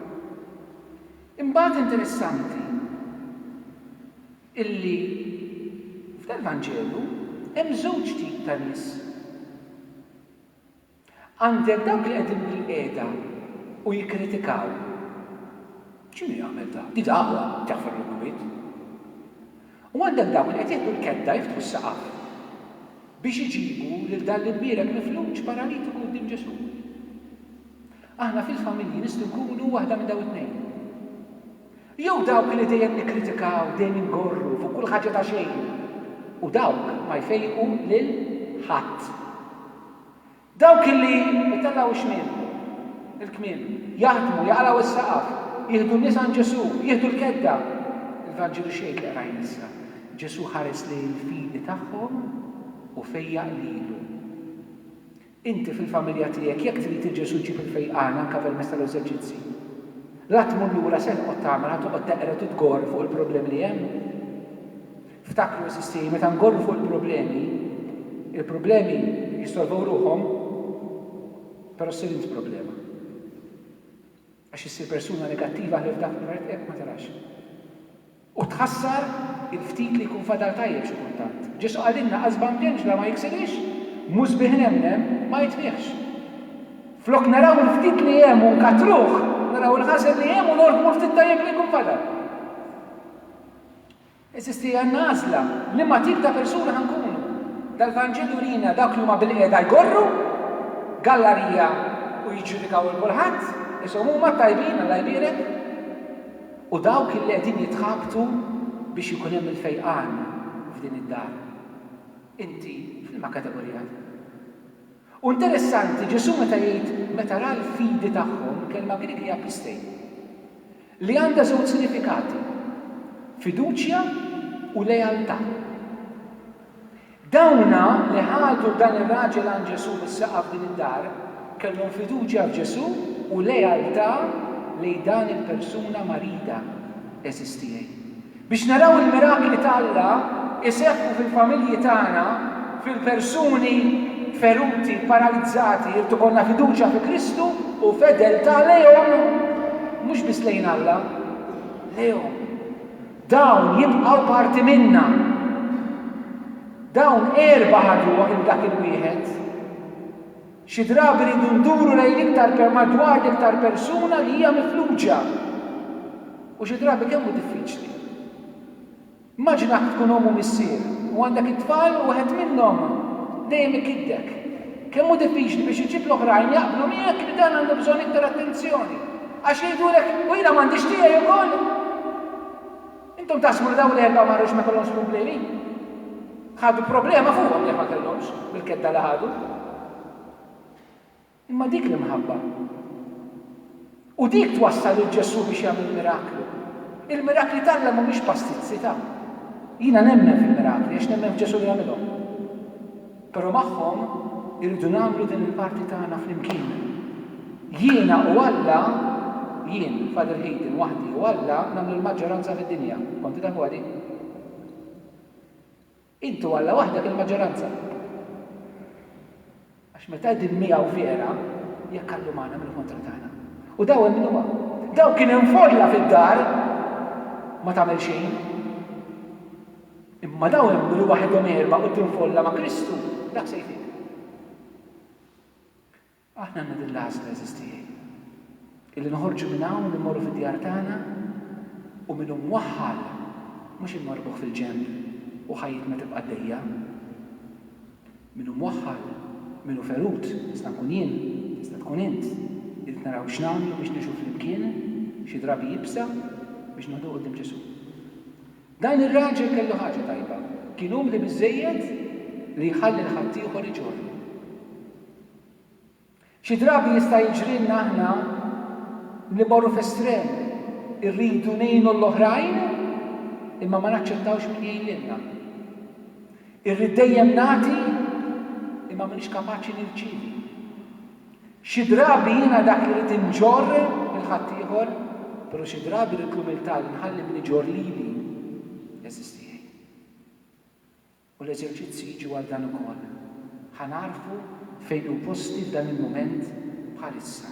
Imbagħad interessanti illi f'dal-Vanġelu hemm żewġ tip ta' nies. Għandek dawk li qegħdin bilqiegħda u jikkritikaw. X'inhu jagħmel dak? Di dagħwa tjaħfar mill-bwiet. U għandek dawk li qed jieħdu l-kedda jiftħu s-saqaf biex iġibu lil dan l-imbierek mifluġ paralitiku quddiem Ġesù. Aħna fil-familji nistgħu nkunu waħda minn dawn it-tnejn. Jew dawk li dejjem nikkritikaw, dejjem ingorru fuq kull ħaġa ta' xejn u dawk ma jfejqu lil ħadd. Dawk li jtellgħu x-xmiem, il-kmiem, jaħdmu, jaqlgħu s-saqaf, jieħdu n-nies għand Ġesù, jieħdu l-kedda. Il-Vanġelu x'jgħid li qrajna issa? Ġesù ħares lejn il-fidi tagħhom u fejjaq lilu. Inti fil-familja tiegħek jekk trid li Ġesù jġib il-fejqan anke permezz tal-eżerċizzi, la tmur lura se toqgħod tagħmel, ħa toqgħod teqred u tgorr fuq il-problemi li hemm? Ftakru, għeżiżtiej, meta ngorru fuq il-problemi, il-problemi jissolvow ruħhom, però ssir int problema. Għax issir persuna negattiva ħlief dak li proprjament qiegħed ma tarax. U tħassar il-ftit li jkun fadal tajjeb xi kultant. Ġesù qalilna, Qasba mġenġla ma jiksirhiex, mhu sbieħ nemnem ma jitfiħx. Flok naraw il-ftit li hemm u nkattruh, naraw il-ħażen li hemm u norbmu l-ftit tajjeb li jkun fadal. Eżisti hija n-għażla, liema tip ta' persuni ħa nkunu. Dal-Vanġelu jurina dawk li huma bilqiegħda jgorru, gallarija u jiġġudikaw 'il kulħadd, ishom huma t-tajbin, Alla jbierek, u dawk illi qegħdin jitħabtu biex ikun hemm il-fejqan f'din id-dar. Inti f'liema kategorija tgħix? U interessanti, Ġesù meta jgħid meta ra l-fidi tagħhom, il-kelma Grieg hija pistei, li għandha żewġ sinifikati, fiduċja u lealtà. Dawna li ħadu dan ir-raġel għand Ġesù mis-saqaf f'din id-dar, kellhom fiduċja f'Ġesù u lealtà lejn dan il-persuna marida għeżież tiegħi. Biex naraw il-mirakli ta' Alla jseħħu fil-familji tagħna, fil-persuni feruti, paralizzati, irid ikollna fiduċja fi Kristu u fedeltà lejhom, mhux biss lejn Alla, lejhom. Dawn jibqgħu parti minna. Dawn erba' ħadu 'l dak il-wieħed. Xi drabi rridu nduru lejn l-iktar per madwar l-iktar persuna li hija mifluġa. U xi drabi kemm hu diffiċli. Immaġina jekk tkun omm u missier u għandek it-tfal u wieħed minnhom dejjem ikiddek. Kemm hu diffiċli biex iġġib l-oħrajn jaqblu miegħek li dan għandu bżonn iktar attenzjoni. Għax jgħidulek, u jiena m'għandix tiegħi wkoll? Intom taħsbu li dawn l-erbgħa ma għadhomx ma jkollhomx problemi? Ħadu problema fuqhom jekk ma kellhomx, bil-kedda li ħadu. Imma dik l-imħabba. U dik twassal lil Ġesù biex jagħmel miraklu. Il-mirakli t'Alla mhumiex pastizzi ta'. Jiena nemmen fil-mirakli għax nemmen f'Ġesù li għamilhom. Però magħhom irridu nagħmlu din il-parti tagħna flimkien. Jiena u Alla, jien, Father Heydon, waħdi u Alla nagħmlu l-maġġoranza fid-dinja. Konti tafuha din? Int u Alla waħdek il-maġġoranza. Għax meta qegħdin miegħu fiera, jekk Allu magħna min hu kontra tagħna? U daw emmnuha. Daw kien hemm folla fid-dar ma tagħmel xejn. Imma dawn jemmnu li waħedhom għerba quddiem folla ma' Kristu, dak se jfid. Aħna għandna din l-għażla, għeżież tiegħi, illi noħorġu minn hawn u mmorru fid-djar tagħna u min hu mwaħħal mhux inwarbuh fil-ġenb u ħajjitna tibqa' għaddejja. Min hu mwaħħal, min hu ferut, nista' nkun jien, tista' tkun int, irrid naraw x'nagħmlu biex ngħixu flimkien, xi drabi ibsa, biex noħduh quddiem Ġesù. Dan ir-raġel kellu ħaġa tajba, kien umli biżżejjed li jħalli l-ħaddieħor iġorru. Xi drabi jista' jiġrilna aħna li mmorru f'estrem, irridu ngħinu lill-oħrajn imma ma naċċettawx min jgħin lilna. Irrid dejjem nagħti imma m'iniex kapaċi nirċievi. Xi drabi jiena dak li rrid inġorr lil ħaddieħor, però xi drabi rrid l-umiltà li nħalli min iġorr lili, għeżież tiegħi. U l-eżerċizzji jiġu għal dan ukoll. Ħa nagħrfu fejn hu posti f'dan il-mument bħalissa.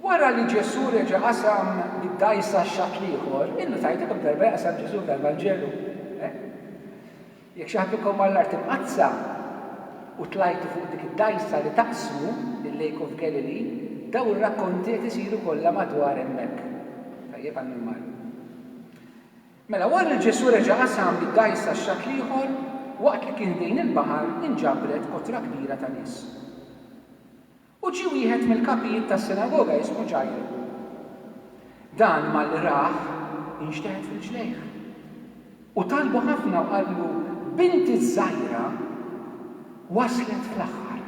Wara li Ġesù reġa' qasam bid-dgħajsa x-xatt l-ieħor, illu tgħidlu kemm darba jaqsam Ġesù f'dal-Vanġelu? Eh? Jekk xi ħadd minnkom mar l-Art Imqaddsa u tlajtu fuq dik id-dgħajsa li taqsmu, il-Lake of Galilee, dawn ir-rakkonti qed isiru kollha madwar hemmhekk. Tajjeb għal min mar. Mela, wara li Ġesù reġa' qasam bid-dgħajsa x-xatt l-ieħor, waqt li kien ħdejn il-baħar inġabret kotra kbira ta' nies. U ġie wieħed mill-kapijiet tas-sinagoga ismu Ġajru. Dan malli rah, inxteħet f'riġlejh. U talbu ħafna u qallu, Binti ż-żgħira waslet fl-aħħar.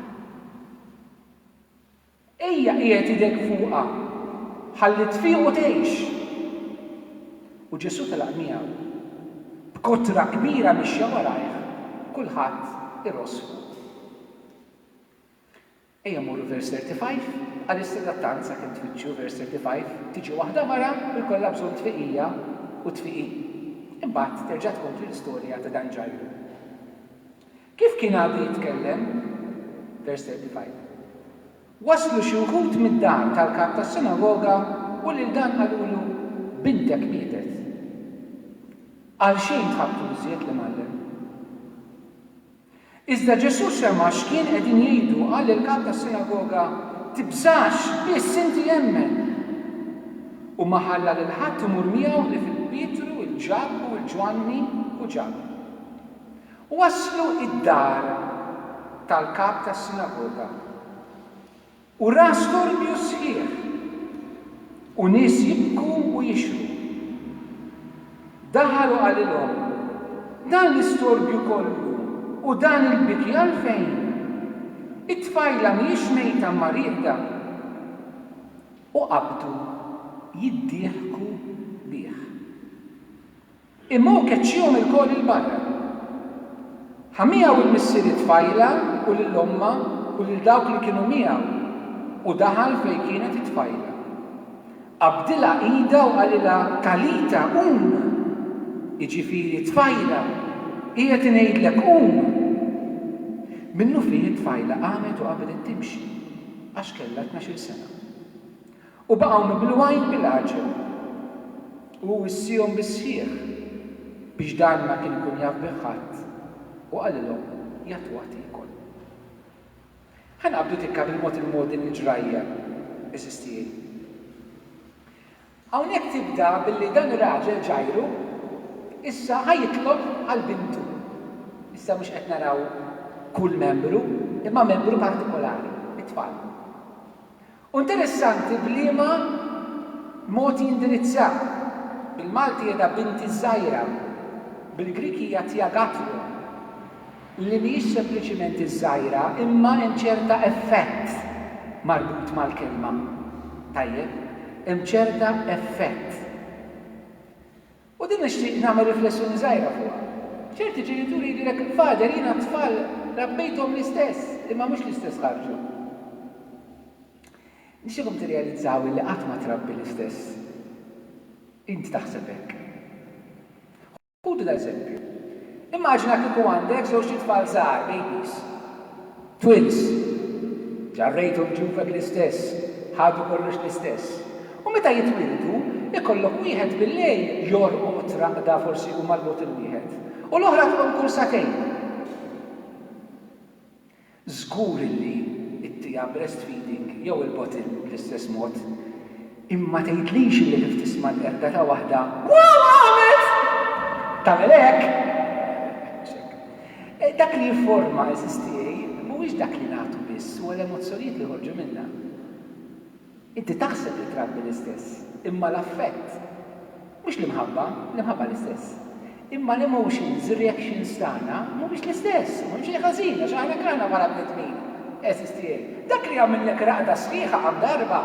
Ejja qiegħed idek fuqha ħalli tfiq u tgħix. U Ġesù telaq miegħu. B'kotra kbira mixja warajh, kulħadd iross fuqu. Ejja mmorru vers 35, Bqalissa għattant sakemm tfittxu, vers 35, tiġi waħda mara u jkollha bżonn tfiqija u tfiqi. Imbagħad terġa' tkompli l-istorja ta' dan Ġajru. Kif kien għadu jitkellem, vers 35, waslu xi wħud mid-dar tal-kap tas-sinagoga u lil dan qalulu, Bintek mietet. Għalxejn tħabbtu biżżejjed l-Imgħallem? Iżda Ġesù sema' x'kien qegħdin jgħidu u qal lill-kap tas-sinagoga, Tibżax, biss inti emmen! U ma ħalla lil ħadd imur miegħu ħlief il-Pietru, il-Ġakbu, il-Ġwanni u Ġakbu. U waslu id-dar tal-kap tas-sinagoga. U ra storbju sħiħ, u nies jibku u jixhru. Daħal u qalilhom, Dan l-istorbju kollu u dan il-biki għalfejn? It-tfajla mhijiex mejta imma rieqda. U qabdu jiddieħku bih. Imma hu keċċihom ilkoll 'il barra. Ħa miegħu l-missieri t-tfajla u lil ommha u lil dawk li kienu miegħu, u daħal fejn kienet it-tfajla. Qabdilha idha u qalilha, Talita, qum! jiġifieri, Tfajla, qiegħed ingħidlek, qum! Minnufih it-tfajla qamet u qabdet timxi, għax kellha tnax-il sena. U baqgħu mimluajn bil-għaġeb, u hu wissiehom bis-sħiħ, biex dan ma kien ikun jaf bih ħadd, u qalilhom, Jagħtuha tiekol. Ħa naqbdu tikka bil-mod il-mod din il-ġrajja, għeżież tiegħi. Hawnhekk tibda billi dan ir-raġel Ġajru issa ħa jitlob għal bintu. Issa mhux qed naraw kull membru, imma membru partikolari, it-tfal. U interessanti b'liema mod jindirizza. Bil-Malti jgħidha binti ż-żgħira, bil-Grieg hija thia gathrum, li mhijiex sempliċiment iż-żgħira imma hemm ċerta effett marbut mal-kelma. Tajjeb? Hemm ċerta effett. U din nixtieq nagħmel riflessjoni żgħira fuqha. Ċerti ġenituri jgħidulek, Father, jiena t-tfal rabbejthom l-istess, imma mhux l-istess ħarġu. Nixtieqkom tirrealizzaw illi qatt ma trabbi l-istess. Int taħseb hekk. Ħudu dal-eżempju. Immaġina kieku għandek żewġt itfal żgħar, babies. Twins. Ġarrejthom ġufek l-istess, ħadu kollox l-istess. U meta jitwieldu, ikollok wieħed bil-lejl jorqod raqda forsi hu marbut il-wieħed, u l-oħra tqum kull sagħtejn. Żgur illi ttiha breastfeeding jew il-bottle bl-istess mod. Imma ma tgħidlix illi kif tisma' l-qerda ta' waħda, Waw għamilt! tagħmel hekk! Mhux hekk. Dak li jifforma, għeżież tiegħi, mhuwiex dak li nagħtu biss, huwa l-emozzjonijiet li joħorġu minna. Inti taħseb li trabbi l-istess, imma l-affett. Mhux l-imħabba, l-imħabba l-istess. Imma l-emotions, reactions tagħna mhumiex l-istess, u m'hemm xejn ħażin għax aħna hekk aħna bħala bnedmin, għeżież tiegħi. Dak li jagħmillek raqda sħiħa qatt darba,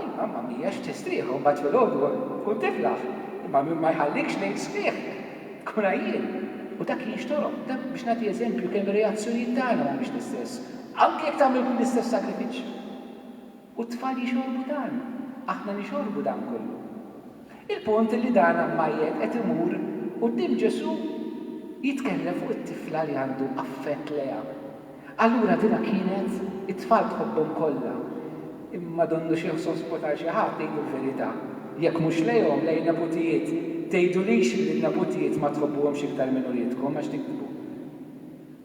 il-mamma mhijiex u tistrieħ u mbagħad filgħodu tkun tiflaħ, imma min ma jħallikx lejl sħiħ tkun għajjien. U dak jinxtorob, dak biex nagħti eżempju kemm ir-reazzjonijiet tagħna mhumiex l-istess, anke jekk tagħmel kull l-istess sagrifiċċju. U t-tfal jixorbu dan. Aħna nixorbu dan kollu. Il-punt hi li dan ammajjed qed imur quddiem Ġesù jitkellem fuq it-tifla li għandu affett lejha. Allura dinha kienet, it-tfal tħobbhom kollha, imma donnu xi sospo ta' xi ħadd, ngħidu l-verità. Jekk mhux lejhom, lejn neputijiet. Tgħidulix li n-neputijiet ma tħobbuhomx iktar minn uliedkom, għax tikdbu.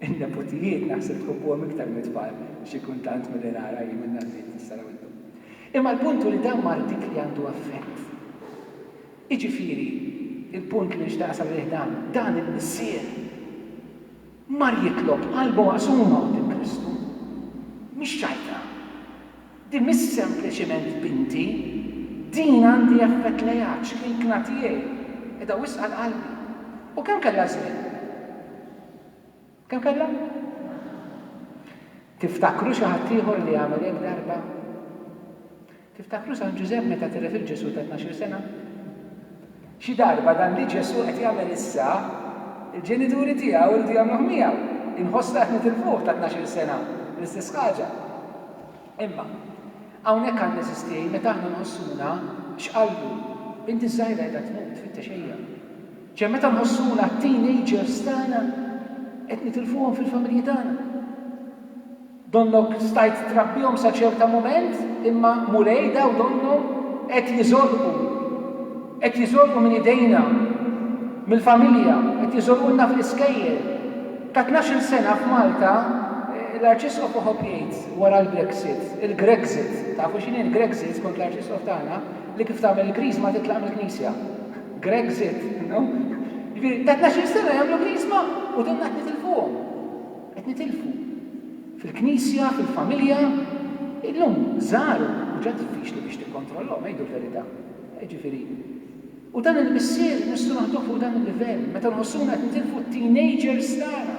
In-neputijiet naħseb tħobbuhom iktar mit-tfal xi kultant milli nara jien minn għandi jekk tista' rawilkom. Imma l-punt hu li dan ma rridx li għandu effett. Jiġifieri, il-punt li nixtieq nasal għalih dan, dan il-missier mar jitlob qalba maqsuma quddiem Kristu, mhix ċajta. Din mhix sempliċiment binti, din għandi affett lejha, ċkejkna tiegħi, qiegħda wisq għal qalbi. U kemm kellha żmien? Kemm kellha? Tiftakru xi ħadd ieħor li għamel hekk darba? Tiftakru San Ġużepp meta tilef lil Ġesù ta' tnax-il sena? Xi darba dan li Ġesù qed jagħmel issa, il-ġenituri tiegħu jridu jagħmluh miegħu. Inħossna qed nitilfuh ta' tnax-il sena bl-istess ħaġa. Imma, hawnhekk għandna għeżież tiegħi meta aħna nħossuna, x'qallu, Binti ż-żgħira qiegħda tmut, tfittex ejja. Ċe meta nħossuna t-teenagers tagħna qed nitilfuhom fil-familji tagħna. Donnok stajt trabbihom sa ċerta mument, imma Mulejda u donnhom qed jiżolqu. Qed jiżolqu minn idejna, mill-familja, qed jiżolqulna fl-iskejjel. Ta' tnax-il sena f'Malta, l-Arċisqof Oħob jgħid wara l-Brexit, il-Grexit, tafu x'inhi l-Grexit skont l-Arċisqof tagħna? Li kif tagħmel il-griż ma titlaq mill-knisja. Grexit, you know? Jiġifieri, ta' tnax-il sena jagħmlu griżma u donnha qed nitilfuhom. Qed nitilfu. Fil-Knisja, fil-familja, illum żgħar hu ġa diffiċli biex tikkontrollahom, ngħidu l-verità. Jiġifieri, u dan il-missier nistgħu naħduh fuq dan il-livell, meta nħossuna qed nitilfu t-teenagers tagħna,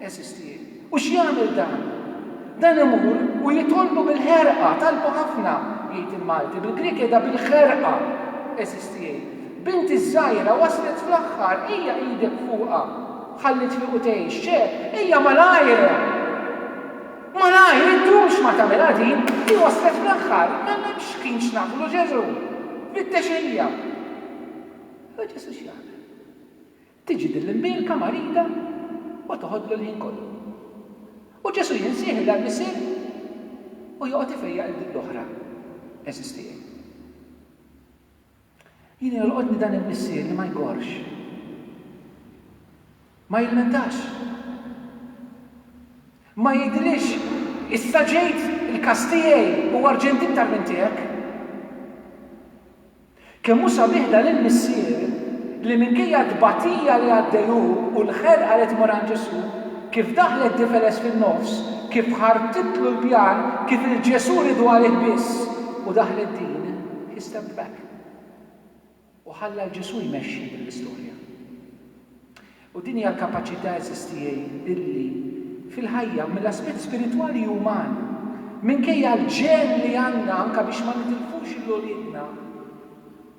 għeżież tiegħi. U x'jagħmel dan? Dan imur u jitolbu bil-ħerqa, talbu ħafna, jgħid il-Malti, bil-Grieg jgħidha bil-ħerqa, għeżież tiegħi. Binti ż-żgħira waslet fl-aħħar, ejja idek fuqha. Ħalli triqu tgħix, ċe, ejja malajr! Malajr, iddu x'ma tagħmilha din, hi waslet fl-aħħar, m'hemmx ħin x'nagħmlu, Ġesù! Fittex hija! Imma Ġesù x'jagħmel? Tiġi din l-imbielka marida u toħodlu l-ħin kollu. U Ġesù jinsieħi għall-Missier u joqgħod ifejjaq lil din l-oħra, Eżisti Jen. Jien jolqotni dan il-missier li ma jgorrx. Ma jilmentax. Ma jgħidilix, Issa ġejt, il-każ tiegħi hu arġenti iktar minn tiegħek. Kemm hu sabiħ dan il-missier li minkejja t-tbatija li għaddej hu u l-ħerqa li tmur għand Ġesù, kif daħlet difeles fin-nofs, kif ħartitlu l-pjan, kif il-Ġesù ridu għalih biss u daħlet din. He stepped back u ħalla lil Ġesù jmexxi din l-istorja. U din hija l-kapaċità, għeżież tiegħi, illi fil-ħajja, mill-aspett spiritwali u uman, minkejja l-ġenn li għandna anke biex ma nitilfux lil uliedna,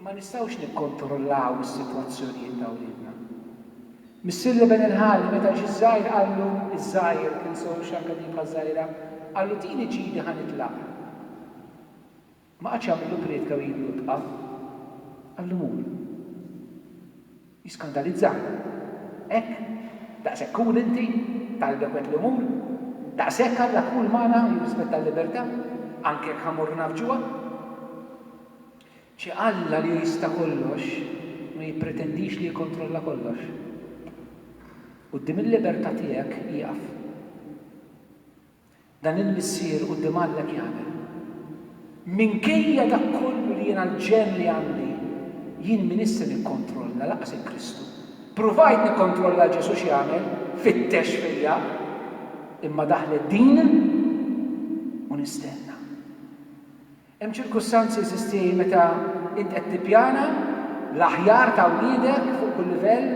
ma nistgħux nikkontrollaw is-sitwazzjonijiet ta' uliedna. Missier Leben il-Ħalli meta ġie żgħir qallu, iż-żgħir, tinsewhx anke din bħaż-żgħira, qallu tini ġidi ħa nitlaq. Ma qagħadx jagħmillu priedka u jgħidlu ibqa'. Qallu mur. Jiskandalizzah. Hekk? Daqshekk cool inti? Talbek u għedtlu mur? Daqshekk Alla cool magħna u jirrispetta l-libertà? Anke jekk ħa mmorru nagħfġuha? Ċe Alla li hu jista' kollox, ma jippretendix li jikkontrolla kollox. Quddiem il-libertà tiegħek ieqaf. Dan il-missier quddiem Alla jagħmel. Minkejja dak kollu li jiena l-ġenn li għandi, jien m'iniex se nikkontrolla lanqas il-Kristu. Pruvajt nikkontrolla l Ġesù x'jagħmel, fittex fija, imma daħlet din u nistenna. Hemm ċirkustanzi, insisti, meta int qed tippjana l-aħjar ta' wliedek fuq kull livell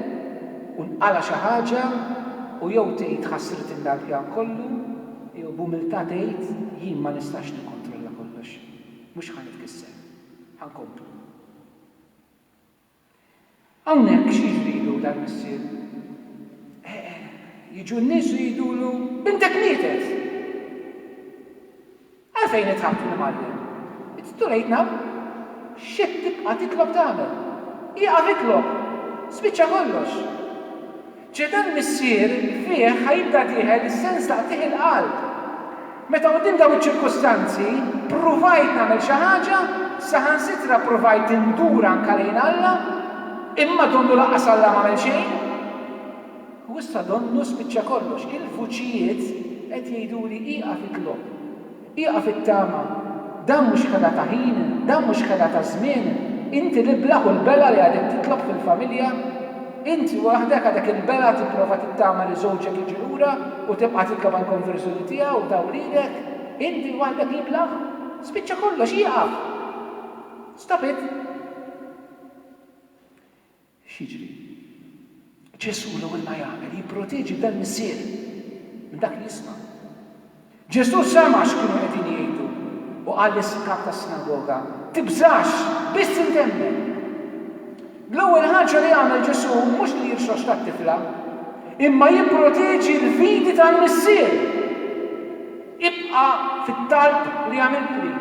u nqala' xi ħaġa u jew tgħid ħassritni dal-pjan kollu jew b'umiltà tgħid jien ma nistax nikkontrolla kollox. Mhux ħa nitkisser. Ħa nkompli. Hawnhekk x'jiġrilu dal-missier? Jiġu n-nies u jgħidulu, Bintek mietet! Għalfejn qed tħabbtu l-imgħallem? It's too late now! X'qed tibqa' titlob tagħmel? Ieqaf itlob! Spiċċa kollox! Ġie dan missier li fih ħa jibda dieħel is-sens ta' qtigħ il-qalb. Meta quddiem dawn iċ-ċirkustanzi, pruvajt nagħmel xi ħaġa, saħansitra pruvajt indur anke lejn Alla, imma donnu lanqas Alla m'għamel xejn. U issa donnu spiċċa kollox, il-vuċijiet qed jgħiduli ieqaf itlob. Ieqaf it-tama. Dan mhux xħeda ta' ħin, dan mhux xħeda ta' żmien. Inti l-iblah u l-belgħa li għadek titlob fil-familja. Inti waħdek għadek il-belgħa tipprova tittama li żewġek jiġi lura u tibqa' titlob għall-konverżjoni tiegħu u ta' wliedek. Inti waħdek l-iblah. Spiċċa kollox, ieqaf! Stop it! X'jiġri? Ġesù l-ewwel ma jagħmel jipproteġi dan missier minn dak li jisma'. Ġesù sema' x'kienu qegħdin jgħidu u qal lis-kap tas-sinagoga, Tibżax, biss int emmen. L-ewwel ħaġa li jagħmel Ġesù mhux li jirxoxta t-tifla, imma jipproteġi l-fidi tal-missier, Ibqa' fit-talb li għamiltli.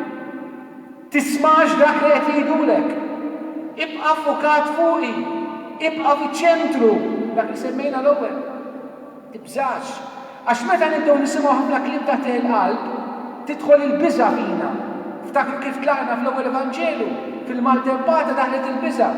Tismax dak li qed jgħidulek. Ibqa' ffukat fuqi. Ibqa' fiċ-ċentru, dak li semmejna l-ewwel. Tibżax. Għax meta nibdew nisimgħu ħafna kliem ta' teħ il-qalb, tidħol il-biża' fina. Ftakru kif tlaqna fl-ewwel Evanġelu, fil-maltempata daħlet il-biża'.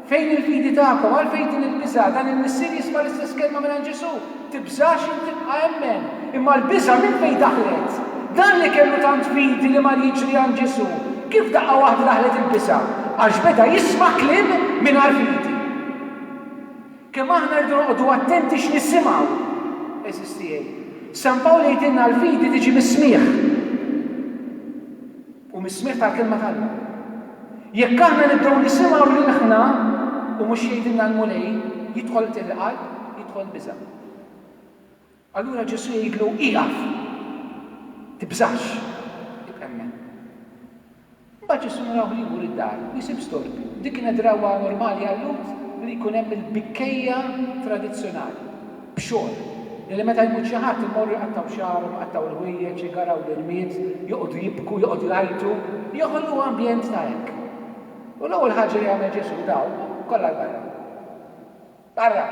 Fejn il-fidi tagħkom? Għalfejn din il-biża'? Dan il-missier jisma' l-istess kelma mingħand Ġesù, Tibżax int ibqa' emmen. Imma l-biża' minn fejn daħlet? Dan li kellu tant fidi li mar jiġri għand Ġesù, kif daqqa waħda daħlet il-biża'? Għax beda jisma' kliem mingħajr fidi. Kemm aħna rridu noqogħdu attenti x'nisimgħu, għeżież tiegħi. San Pawl jgħidilna l-fidi tiġi mis-smigħ. u mis-smigħ tal-Kelma t'Alla. Jekk aħna nibdew nisimgħu lil ħna u mhux jgħidilna l-Mulej, jidħol qtil il-qalb, jidħol biża'. Allura Ġesù jgħidlu, Ieqaf! Tibżax! Ibqa' hemmhekk. Imbagħad Ġesù narawh li jmur id-dar u jsib storbju. Dik kienet drawwa normali għal Lhud li jkun hemm il-bikkejja tradizzjonali. b'xogħol, illi meta jmut xi ħadd imorru jqattgħu xagħarhom, iqattgħu l-ħwejjeġ, igaraw l-irmied, joqogħdu jibku, joqogħdu jgħajtu, joħolqu ambjent ta' hekk. U l-ewwel ħaġa li jagħmel Ġesù, dawk kollha 'l barra. Barra!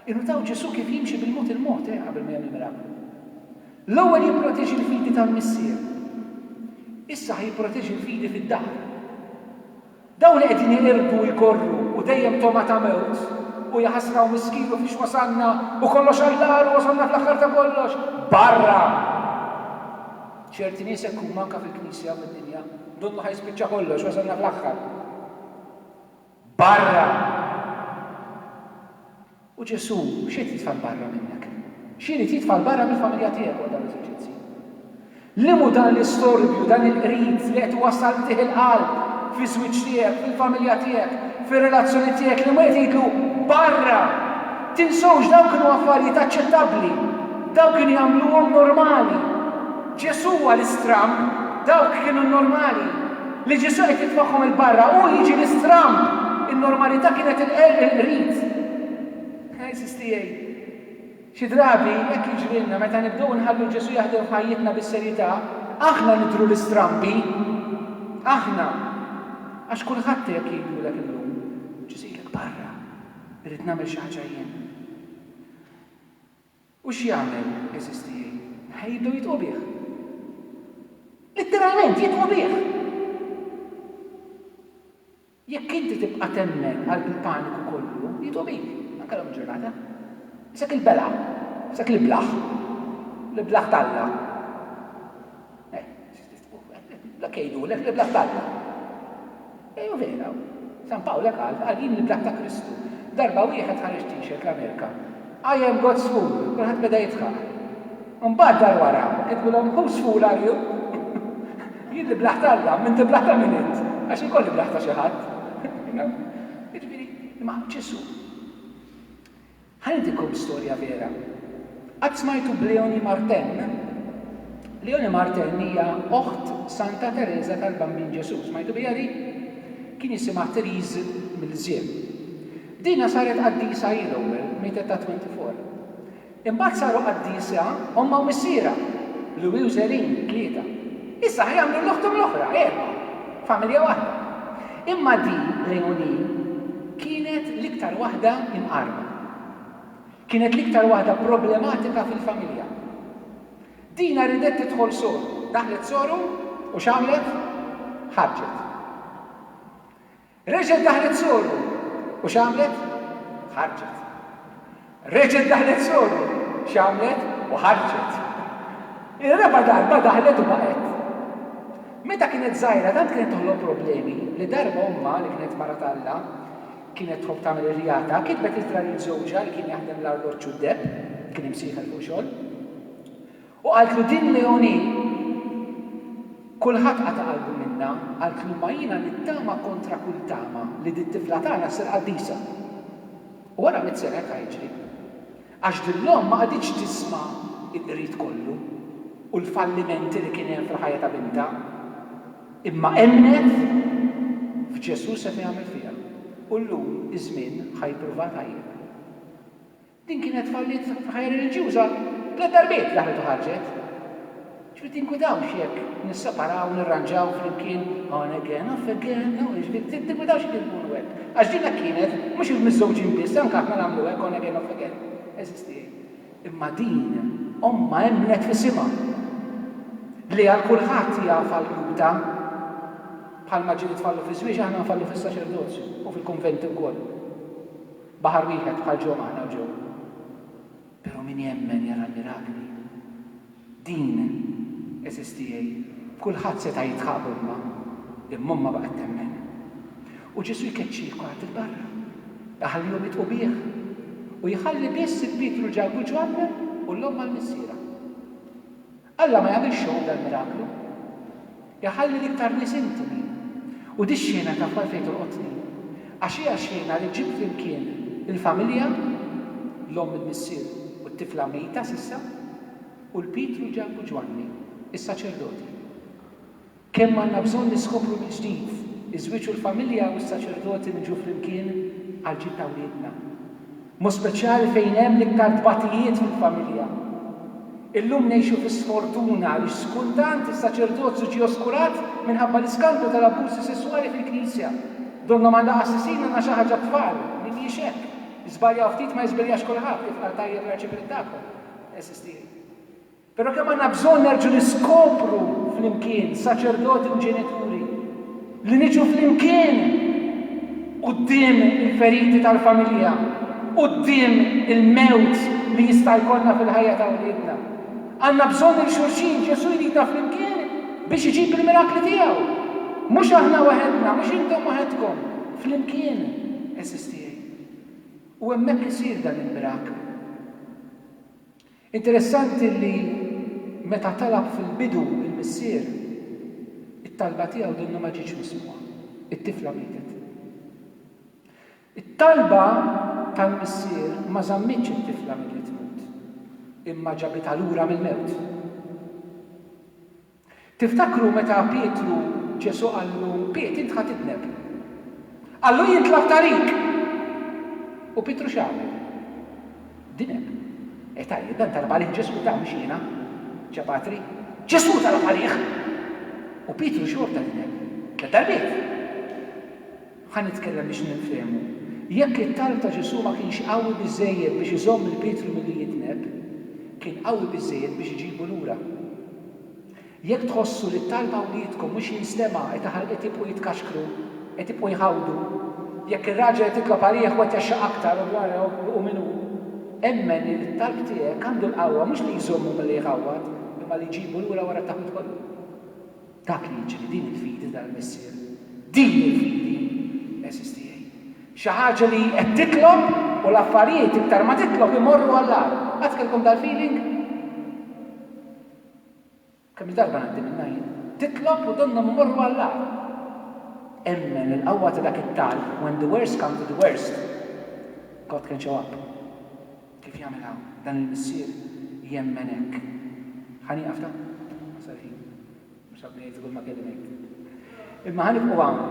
Innutaw Ġesù kif jimxi bil-mod il-mod, eh, qabel ma jagħmel miraklu. L-ewwel jipproteġi l-fidi tal-Missier. Issa ħa jipproteġi l-fidi fid-dar. Dawn li qegħdin iqirdu u jgorru u dejjem togħma ta' mewt, u jaħasra u miskin u fiex wasalna u kollox għall-agħar u wasalna fl-aħħar ta' kollox, barra! Ċerti nies hekk huma anke fil-Knisja u fid-dinja, ndunnu ħa jispiċċa kollox, wasalna fl-aħħar. Barra! U Ġesù x'irid jitfa' 'l barra minnek? X'irid jitfa' 'l barra mill-familja tiegħek wara dawn l-eżerċizzji? Li mhu dan l-istorbju, dan il-qrid li qed iwassal qtigħ il-qalb fiż-żwieġ tiegħek, fil-familja tiegħek, fir-relazzjonijiet tiegħek li l-Mulej qed jgħidlu, Barra! Tinsewx dawn kienu affarijiet aċċettabbli, dawn kien jagħmluhom normali. Ġesù huwa l-istramb, dawk kienu n-normali. Li Ġesù qed jitfagħhom 'il barra, hu jiġi l-istramb, in-normalità kienet il-qerq il-qrid. Għeżież tiegħi, xi drabi hekk jiġrilna meta nibdew inħallu Ġesù jaħdem f'ħajjitna bis-serjetà, aħna nidhru l-istrambi. Aħna. Għax kulħadd qiegħed jgħidulek illum, Ġesù jgħidlek barra, irrid nagħmel xi ħaġa jien. U x'jagħmel, għeżież tiegħi? Eħe jibdew jidħqu bih. Litteralment jidħqu bih! Jekk inti tibqa' temmen qalb il-paniku kollu, jidħqu bik, anke l-ewwel ġurnata. Isek il-belgħa, isek l-iblah, l-iblah t'Alla. Dak jgħidulek li bl-att t'Alla. Ejjew vera. San Pawl qal, qal jien li bl-att ta' Kristu. Darba wieħed ħareġ t-shirt l-Amerika, I am God's fool, kulħadd beda jidħaq. Imbagħad dar wara u kitbilhom whose fool are you? Jien li bl-att t'Alla, m'inti bl-att ta' min int? Għax jien kolli bl-att ta' xi ħadd. Jiġifieri, imma Ġesù. Ħanejtikom storja vera. Qatt smajtu b'Léonie Martin? Léonie Martin hija oħt Santa Tereża tal-Bambin Ġesù. Smajtu biha din? Kien jisimha Therese Milzieu. Dinha saret qaddisa hi l-ewwel, mietet ta' 24. Imbagħad saru qaddiesa ommha u missierha, Louis u Zerine, tlieta. Issa ħa jagħmlu l-oħthom l-oħra, erbgħa. Familja waħda. Imma din, Leonine, kienet l-iktar waħda imqarrba. Kienet l-iktar waħda problematika fil-familja. Dina ridet tidħol soru. Daħlet soru u x'għamlet? Ħarġet. Reġgħet daħlet soru u x'għamlet? Ħarġet. Reġgħet daħlet Sodom, x'għamlet? U ħarġet. Ir-raba' darba daħlet u baqgħet. Meta kienet żgħira tant kienet toħloq problemi li darba ommha, li kienet mara t'Alla, kienet tħobb tagħmel ir-rjata, kitbet ittra lil żewġha li kien jaħdem l-arloġġ u d-deheb, kien imsieħel fuq xogħol, u qaltlu din Leonie kulħadd qata' qalbu minnha, qaltlu imma jiena nittama kontra kull tama li dit-tifla tagħna ssir qaddisa. Wara mitt sena hekk ħajġri. Għax din l-omm ma qagħditx tisma' l-qrid kollu u l-fallimenti li kien hemm fil-ħajja ta' bintha, imma emmnet f'Ġesù seta' jagħmel fiha u llum iż-żmien ħa jippruvaha tajjeb. Din kienet falliet fil-ħajja reliġjuża tliet darbiet, daħlet u ħarġet. X'qed tinkwitawx jekk nisseparaw, nirranġaw flimkien, on again, off again, no ish, tinkwitawx jekk inkunu hekk? Għax din hekk kienet, mhux il-miżżewġin biss, anke aħna nagħmlu hekk, on again, off again. Għeżież tiegħi. Imma din, ommha emmnet f'isimha, li għal kulħadd hija falluta. Bħalma ġieli tfallu fiż-żwieġ, aħna nfallu fis-saċerdozju, u fil-kunventi wkoll. Baħar wieħed, bħal Joe m'aħna u Joe. Pero' min jemmen jara l-mirakli. Din, għeżież tiegħi, kulħadd seta' jidħaq b'ommha, imma ommha baqgħet temmen. U Ġesu' jkeċċih kulħadd 'il barra, iħallihom jidħqu bih, u jħalli biss 'il Pietru, Ġakbu, Ġwann u l-omm għal missierha. Alla ma jagħmilx xogħol dal-miraklu. Iħalli l-iktar nies intimi. U dix-xhiena taf għalfejn tolqotni? Għax hija xhiena li ġġib flimkien il-familja, l-omm il-missier u t-tifla mejta s'issa, u 'l Pietru, Ġakbu, Ġwanni, is-saċerdoti. Kemm għandna bżonn niskopru mill-ġdid iż-żwieġ u l-familja u s-saċerdoti li nġu flimkien għall-ġid ta' wliedna. Mod speċjali fejn hemm l-iktar tbatijiet fil-familja. Illum ngħixu fi sfortuna għaliex skultant is-saċerdozju ġie oskurat minħabba l-iskandlu tal-abbużi sesswali fil-Knisja. Donnhom għandha qassisin għandna xi ħaġa t-tfal li mhijiex hekk. Żbaljaw ftit ma jiżbljax kulħadd kif qal tajjeb l-Arċipriet tagħkom, għeżież tiegħi. Però kemm għandna bżonn nerġgħu niskopru flimkien, saċerdoti u ġenituri, li niġu flimkien quddiem il-feriti tal-familja, quddiem il-mewt li jista' jkollna fil-ħajja ta' wliedna. Għandna bżonn lil xulxin, Ġesù jridna flimkien biex iġib il-mirakli tiegħu. Mhux aħna waħedna, mhux intom waħedkom, flimkien, għeżież tiegħi. U hemmhekk isir dan il-miraklu. Interessanti li meta talab fil-bidu il-missier, it-talba tiegħu donnha ma ġietx mismugħa, it-tifla mietet. It-talba tal-missier ma żammitx it-tifla milli tmut, imma ġabitha lura mill-mewt. Tiftakru meta Pietru, Ġesù qallu, Piet, int ħa tidneb. Qallu, Jien tlabt għalik! U Pietru x'għamel? Dineb. Eh tajjeb, dan talab għalih Ġesù, ta, mhux jiena. Ċe Patri? Ġesù talab għalih! U Pietru xorta dineb. Tliet darbiet. Ħa nitkellem biex ninfehmu. Jekk it-talb ta' Ġesù ma kienx qawwi biżżejjed biex iżomm lil Pietru milli jitneb, kien qawwi biżżejjed biex iġibu lura. Jekk tħossu li t-talb ta' wliedkom mhux jinstema' qed jibqgħu jitkaxkru, qed jibqgħu jħawdu. Jekk ir-raġel qed jitlob għalih u qed jgħaxxaq aktar u wara jħu min hu, emmen li t-talb tiegħek għandu l-qawwa mhux li jżommu milli jħawwad, imma li jġibu lura wara t-taħwid kollu. Dak li jiġri, din il-fidi tal-Missier, din il-fidi, għeżież tiegħi. Xi ħaġa li qed titlob u l-affarijiet iktar ma titlob imorru għall-agħar. Qatt kellkom dal-feeling? Kemm-il darba ngħaddi minnha jien. Titlob u donnhom imorru għall-agħar. Emmen il-qawwa ta' dak it-talb, when the worst come to the worst, God can show up. Kif jagħmilha dan il-missier jemmen hekk. Ħa nieqaf ta? Wasal ħin. Mhux ħadd ma jgħid żgur ma kelli ngħid. Imma ħa nibqgħu hawn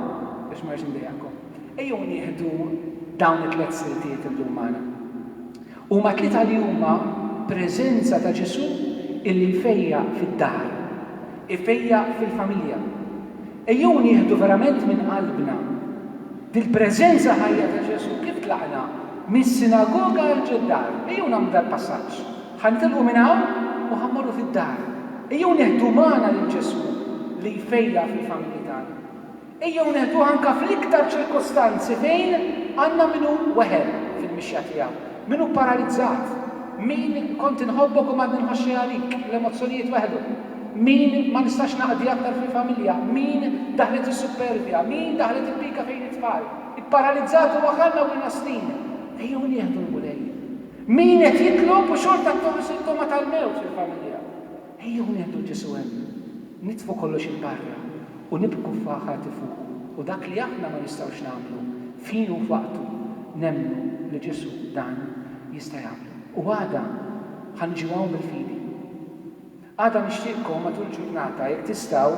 biex ma rridx indejjaqkom. Ejjew nieħdu dawn it-tliet siltiet illum magħna. Huma tliet għalihuma preżenza ta' Ġesù illi jfejjaq fid-dar, ifejjaq fil-familja, Ejjew nieħdu verament minn qalbna dil-preżenza ħajja ta' Ġesù kif tlaqna mis-sinagoga għal ġid-dar. Ejjew nagħmlu dal-passaġġ. Ħa nitilqu minn hawn u ħa mmorru fid-dar. Ejjew neħdu magħna lil Ġesù li jfejjaq fil-familji tagħna. Ejjew neħduh anke fl-iktar ċirkustanzi fejn għandna min hu weħel fil-mixja tiegħu, min hu paralizzat, min kont inħobbok u m'għadni nħoxx xejn għalik, l-emozzjonijiet weħlu. Min ma nistax naqdi aktar fil-familja, min daħlet is-suppervja, min daħlet il-pika fejn it-tfal, ipparalizzat u waħalna u inastin. Ejjew nieħdu l-Mulej. Min qed jitlob u xorta ttoħħ is-sintoma tal-mewt fil-familja. Ejjew nieħdu 'l Ġesù hemm. Nitfu kollox 'il barra u nibku ffaħħati fuqu u dak li aħna ma nistgħux nagħmlu f'ħinu u f'waqtu, nemmnu li Ġesù dan jista' jagħmlu. U għada ħa niġu hawn bil-fidi. Għada nixtieqkom matul il-ġurnata jekk tistgħu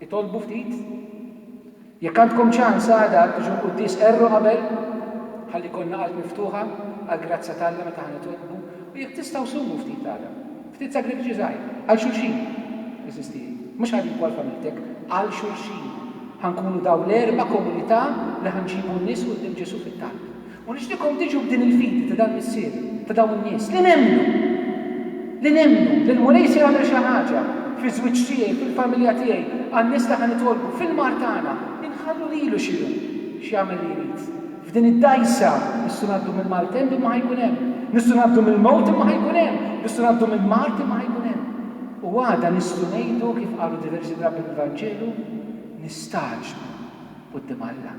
itolbu ftit. Jekk għandkom ċans għada tiġu l-quddies qerru qabel ħalli jkollna qalb miftuħa għall-grazzja t'Alla meta ħa nitolbu u jekk tistgħu sumu ftit għada. Ftit sagrifiċi żgħir għal xulxin għażiż tiegħi. Mhux għalik u għal familtek, għal xulxin. Ħa nkunu daw l-erba' komunità li ħa nġibu n-nies quddiem Ġesù fit-talb. U nixtieqkom tiġu b'din il-fidi ta' dal-missier, ta' dawn in-nies, li nemmnu, li nemmnu li l-Mulej se jagħmel xi ħaġa fiż-żwieġ tiegħi, fil-familja tiegħi, għan-nies li ħa nitolbu, fil-mard tagħna, li nħallu lilu xi hu, x'jagħmel li jrid. F'din id-dgħajsa, nistgħu ngħaddu minn maltemp imma ħa jkun hemm. Nistgħu ngħaddu mill-mewt imma ħa jkun hemm. Nistgħu ngħaddu minn mard imma ħa jkun hemm. U għada nistgħu ngħidu, kif qalu diversi drabi fil-Vanġelu, nistagħġbu quddiem Alla.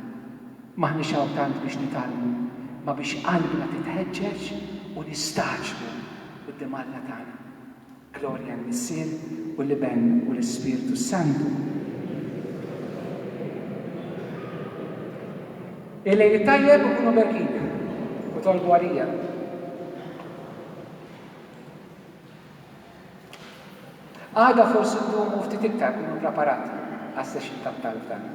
M'aħniex hawn tant biex nitgħallmu, ma biex qalbna titħeġġeġ u nistagħġbu quddiem Alla tagħna. Glorja l-Missier u l-Iben u l-Ispirtu s-Santu. Il-lejl it-tajjeb u kunu berkin u tolbu għalija. Għada forsi ndumu ftit iktar, kunu preparati għas-session tat-talb tagħna.